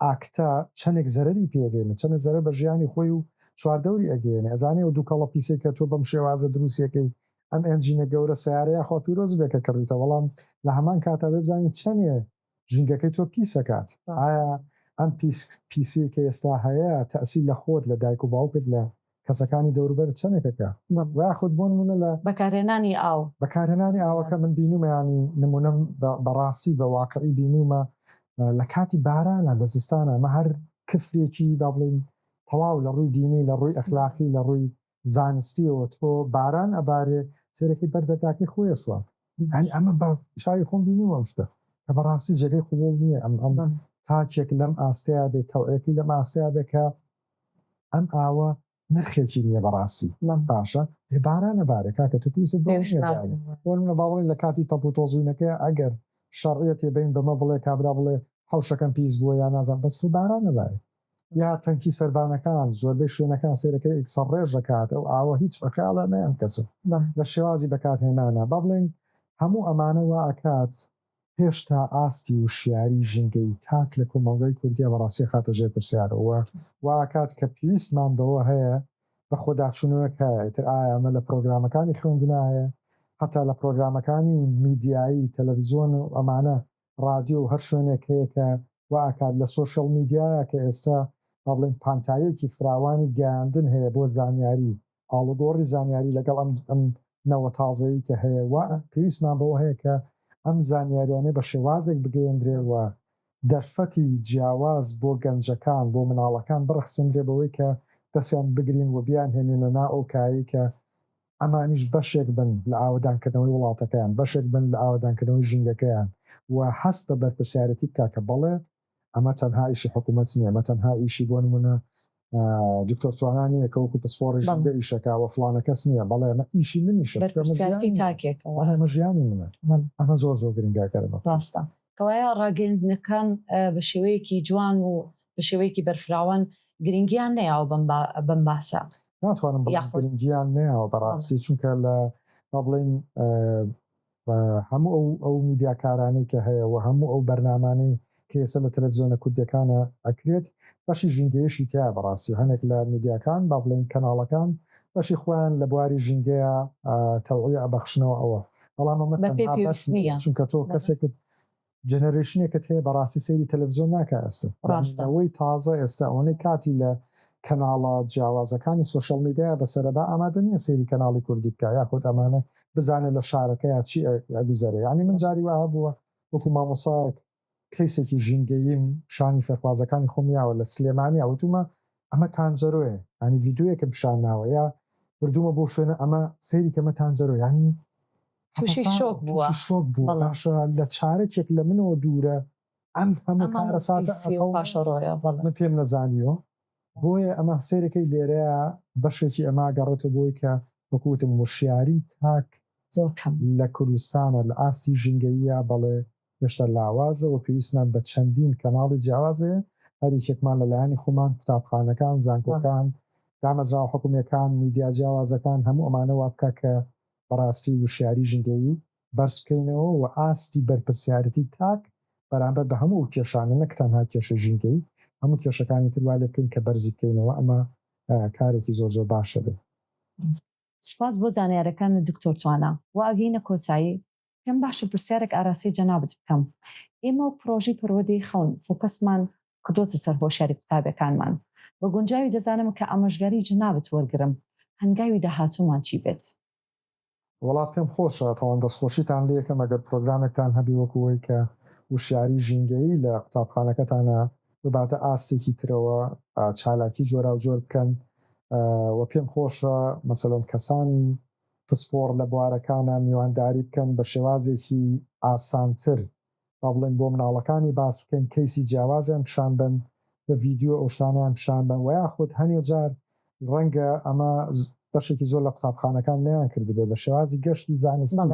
ئاکتە چەندێک زەرەری پێ ئەگەینێ چەندێک زەرەر بە ژیانی خۆی و چواردەوری ئەگەینێ ئەزانێ ئەو دوکەڵە پیسەی کە تۆ بەم شێوازە دروستیەکەی ئەم ئێنجینە گەورە سەیارەیە خوا پیرۆزی بێ کە کڕیتە بەڵام لە هەمان کاتا بێ بزانین چەندێ ژینگەکەی تۆ پیس ئەکات ئایا ئەم پیس پیسیەی کە ئێستا هەیە تەئسیر لە خۆت لە دایک و باوکت لە کەسەکانی دەوروبەرت چەنێک ئەکا ویاخود بۆ نمونە لە بەکارهێنانی ئاو. بەکارهێنانی ئاوەکە من بینیومە یانی نمونەم بە بەڕاستی بە واقعی بینیومە لە کاتی بارانا لە زستانا ئەمە هەر کفرێکی با بڵێین تەواو لە ڕووی دینی لە ڕووی ئەخلاقی لە ڕووی زانستیەوە تۆ باران ئەبارێ سێرەکی بەر دەرگاکەی خۆیە شوات یانی ئەمە بە چاوی خۆم بینیوە ئەم شتە کە بەڕاستی جێگەی قوبوڵ نییە ئەم ئەم تاکێک لەم ئاستەیە بێت تەوعەکی لەم ئاستەیە بێت کە ئەم ئاوە نرخێکی نییە بەڕاستی من باشە هێ بارانە بارە کاکە تو پێویست بۆنە باڵی لە کاتی تەپ و تۆزوینەکە ئەگەر شەڕیەتێ بین بەمە بڵێ کابرا بڵێ حوشەکەم پیس بووە یا نازان بەس تو بارانە بارە یا تەنکی سەربانەکان زۆربەی شوێنەکان سەیرەکەی ئیک سەڕڕێژ دەکات ئەو ئاوە هیچ بەکالا نەیەم کەسم لە شێوازی بەکارهێنانا با بڵێین هەموو ئەمانە وا ئەکات هێشتا ئاستی وشیاری ژینگەیی تاک لە کۆمەڵگای کوردیا بە ڕاستی ئەخاتە ژێر پرسیارەوە و وا ئەکات کە پیویستمان بەوە هەیە بە خۆداچوونەوەک هەیە ئیتر ئایا ئەمە لە پڕۆگرامەکانی خوێندنا هەیە هەتا لە پڕۆگرامەکانی میدیایی تەلەفزیۆن و ئەمانە ڕادیۆ و هەر شوێنێک هەیە کە وا ئەکات لە سۆشیاڵ میدیایە کە ئێستا با بڵێین پانتاییەکی فراوانی گەیاندن هەیە بۆ زانیاری و ئاڵوگۆڕی زانیاری لەگەڵ ئەم نەوە تازەی کە هەیە وا پێویستمان بەوە هەیە کە ئەم زانیاریانە بە شێوازێک بگەیەندرێ و دەرفەتی جیاواز بۆ گەنجەکان بۆ مناڵەکان بڕەخسێندرێ بەوەی کە دەستیان بگرین و بیانهێنینە نا ئەو کایەی کە ئەمانیش بەشێک بن لە ئاوەدانکردنەوەی وڵاتەکەیان، بەشێک بن لە ئاوەدانکردنەوەی ژینگەکەیان و هەست بە بەرپرسیارێتی بکا کە بەڵێ ئەمە تەنها ئیشی حکومەت نییە، ئەمە تەنها ئیشی بۆ نموونە دکتۆر توانا نییە کە وەکو پسپۆڕی ژینگە ئیش دەکا و فڵانە کەس نییە، بەڵێ ئەمە ئیشی منیشە، چونکە ئەمە ژیانی منە، بەرپرسیارێتی تاکێکە، بەڵێ ئەمە ژیانی منە، ئەمە زۆر زۆر گرنگە ئەگەر ئەمە بکەین. ڕاستە، کەوایە ڕاگەیاندنەکان بە شێوەیەکی جوان و بە شێوەیەکی بەرفراوان گرنگییان نەیاوە بەم باسە. ناتوانم بڵێم یاخود. گرنگیان نەیاوە بەڕاستی چونکە لە با بڵێین ئە، بە هەموو ئەو ئەو میدیاکارانەی کە هەیە و هەموو ئەو بەرنامانەی کە ئێستا لە تەلەفزیۆنە کوردیەکانە ئەکرێت بەشی ژینگەیشی تیایە بەڕاستی هەنێک لە میدیاکان با بڵێین کەناڵەکان بەشی خۆیان لە بواری ژینگەیە ئە، تەوعیە ئەبەخشنەوە ئەوە بەڵام ئەمە بە پێ تەنها بەس پێویست نیە نییە. چونکە تۆ بەڵێ. کەسێکت جەنەرەیشنێکت هەیە بەڕاستی سەیری تەلەفزیۆن ناکە ئەستن یانی نەوەی تازە ئێستا ئەوەنەی کاتی لە کەناڵە جیاوازەکانی سۆشیاڵ میدیا بەسەرە با ئامادە نیە سەیری کەناڵی کوردی بکا یاخود ئەمانە بزانێ لە شارەکەیا چی ئەگوزەرێ یانی من جاری وا هەبووە وەکو مامۆسایەک کەیسێکی ژینگەییم شانی فێرخوازەکانی خۆم یاوە لە سلێمانیا وتومە ئەمە تانجەرۆیە یانی ڤیدیۆیەکم پیشان ناوە یا بردومە بۆ شوێنە ئەمە سەیری کە مە تانجەرۆ یانی تووشی شۆک بووە تووشی شۆک بووە بەڵێ. باشە لە چارەکێک لە منەوە دوورە ئەم هەموو ئەم هەموو کارەساتە پیسی و ئەکەو پاشەڕۆیە بەڵێ من پێم نەزانیوە بۆیە ئەمە سەیرەکەی لێرەیە بەشێکی ئەمە ئەگەڕێتەوە بۆی کە وەکو وتم وشیاری تاک زۆر کەم لە کوردستانە لە ئاستی ژینگەییا بەڵێ هێشتا لاوازە وە پێویستمان بە چەندین کەناڵی جیاواز هەیە هەر یەکێکمان لە لایەنی خۆمان قوتابخانەکان بەڵێ. زانکۆکان دامەزراوە حکومیەکان میدیا جیاوازەکان هەموو ئەمانە وا بکا کە بەڕاستی وشیاری ژینگەیی بەرز بکەینەوە و ئاستی بەرپرسیارێتی تاک بەرامبەر بە هەموو ئەو کێشانە نەک تەنها کێشەی ژینگەیی هەموو کێشەکانی تر وا لێ بکەین کە بەرزی بکەینەوە ئەمە کارێکی زۆر زۆر باشە بێت. سپاس بۆ زانیارەکانت دکتۆر توانا. وە ئەگەینە کۆتایی. پێم باشە پرسیارێک ئاراستەی جەنابت بکەم، ئێمە و پڕۆژەی پەروەردەی خەون فۆکەسمان کردۆتە سەر هۆشیاری قوتابیەکانمان، بە گونجاوی دەزانم کە ئامۆژگاری جەنابت وەرگرم، هەنگاوی داهاتوومان چی بێت؟ وەڵا پێم خۆشە، تاوان دەستخۆشیتان لێکەم ئەگەر پڕۆگرامێکتان هەبێ وەکو وەی کە وشیاری ژینگەیی لە قوتابخانەکەتانا بباتە ئاستێکی ترەوە، چالاکی جۆراوجۆر بکەن و پێم خۆشە مەسەلەن کەسانی پسپۆڕ لە بوارەکانا میوانداری بکەن بە شێوازێکی ئاسانتر با بڵێین بۆ مناڵەکانی باس بکەین کەیسی جیاوازیان پیشان بەن بە ڤیدیۆ ئەو شتانەیان پیشان بەن وە یاخود هەنێ جار ڕەنگە ئەمە بەشێکی زۆر لە قوتابخانەکان نەیان کردبێ بە شێوازی گەشتی زانستی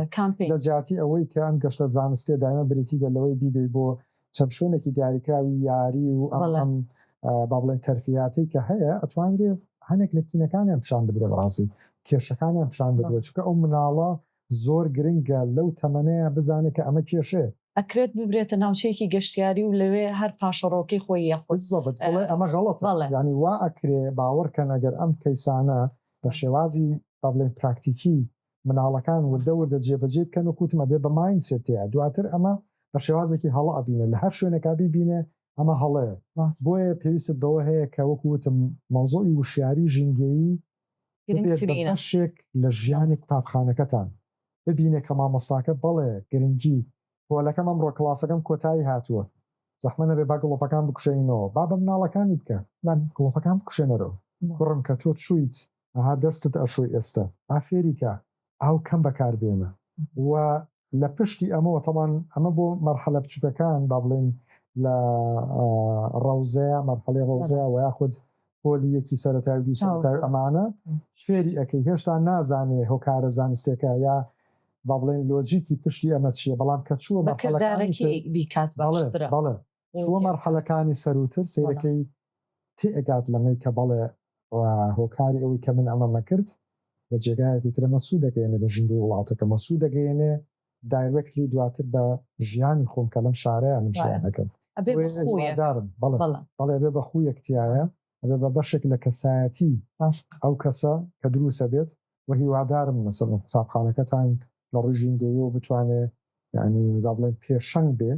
لە جیاتی ئەوەی کە ئەم گەشتە زانستیە دایمە بریتی بێ لەوەی بیبەی بۆ چەند شوێنێکی دیاریکراوی یاری و ئەم با بڵێن تەرفیاتی کە هەیە ئەتوانرێ هەنێک لە کینەکانیان پیشان بدرێ بەڕاستی کێشەکانیان پیشان بدرێ چکە ئەو مناڵە زۆر گرنگە لەو تەمەەیە بزانێت کە ئەمە کێشێ ئەکرێت ببرێتە ناوچەیەکی گەشتیاری و لەوێ هەر پاشەڕۆکەی خۆی یەخود ئەمە غەڵەت ینی وا ئەکرێ باوەڕکەن ئەگەر ئەم کەیسانە بە شێوازی با بڵێن پراکتیکی مناڵەکان وردە وردە جێ بەجێی بکەن وەک وتم ئەبێ بە مایند سێت تێیا دواتر ئەمە بە شێوازێکی هەڵە ئەبینێ لە هەر شوێنێکا بیبینێ ئەمە هەڵەیە بۆیە پێویستت بەوە هەیە کە وەک وتم مەوزوعی وشیاری ژینگەیی ببێت بە بەشێک لە ژیانی قوتابخانەکەتان ببینێ کە مامۆستاکە بەڵێ گرنگی پۆلەکەم ئەمڕۆ کڵاسەکەم کۆتایی هاتووە زەحمە نەبێ با گڵۆپەکان بکوشێنینەوە با بە مناڵەکانی بکە گڵۆپەکان بکوشێنەرەوە کوڕم کە تۆ چوویت ئەها دەستت ئەشۆی ئێستە. ئا فێریکە ئاو کەم بەکار بێنە. وە لە پشتی ئەمەوە تەبان ئەمە بۆ مەرحەلە بچوکەکان با بڵێین لە ڕەوزەیە مەرحەلەی ڕەوزەیە وە یاخود پۆلی یەکی سەرەتای و دوو سەرەتای و ئەمانە فێری ئەکەی هێشتا نازانێ هۆکارە زانستیەکە یا با بڵێین لۆجیکی پشتی ئەمە چیە بەڵام کە چووە مەرحەلەکانی تر بەکردارەکی بیکات باشترە. بەڵێ بەڵێ چووە مەرحەلەکانی سەرووتر سەیرەکەی تێئەگات لەمەی کە بەڵێ و هۆکاری ئەوەی کە من ئەمەم نەکرد لە جێگایەکی ترەمە سوو دەگەیەنێ بە ژینگەی وڵاتەکەمە سوو دەگەیەنێ دایرێکتلی دواتر بە ژیانی خۆم کە لەم شارەیە من ژیان دەکەم دارم بەڵێ بێ بە خوویەک تایە ئەبێ بە بەشێک لە کەسایەتی ئەو کەسە کە دروسە بێت و هیوادارم مەسەڵم قوتابخانەکەتان لە ڕژینگەیەوە بتوانێت یعنی با بڵێن پێشەنگ بێ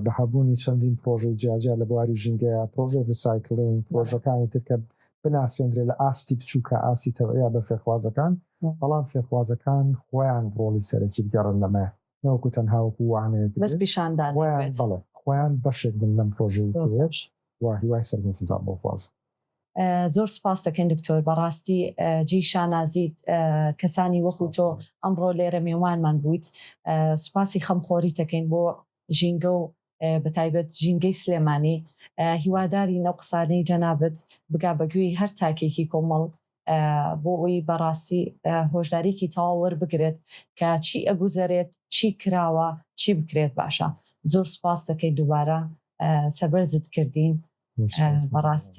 بە هەبوونی چەندین پرۆژەی جیاجیا لە بواری ژینگەیە، پرۆژەی ریسایکلین، پرۆژەکانی تر کە بناسێندرێت لە ئاستی بچووکە ئاستی تەوعیە بە فێرخوازەکان، بەڵام فێرخوازەکان خۆیان ڕۆڵی سەرەکی بگێڕن لەمەیە نەوەکو تەنها وەکو وانەیەک بێت، بەس پیشاندان بێت، خۆیان بەڵێ خۆیان بەشێک بن لەم پرۆژەیەی تر و هیوای سەرکەوتنتان بۆ دەخوازم. زۆر سوپاست دەکەین دکتۆر بەڕاستی جێی شانازیت کەسانی وەکو تۆ ئەمڕۆ لێرە مێوانمان بوویت سوپاسی خەم خۆریت دەکەین بۆ ژینگە و بەتایبەت ژینگەی سلێمانی هیوادارین ئەو قسانەی جەنابت بگا بە گوێی هەر تاکێکی کۆمەڵ بۆ ئەوی بەڕاستی هۆشداریکی تەواو وەربگرێت کە چی ئەگوزەرێت چی کراوە چی بکرێت باشە زۆر سوپاست دەکەین دووبارە سەربەرزت کردین بەڕاستی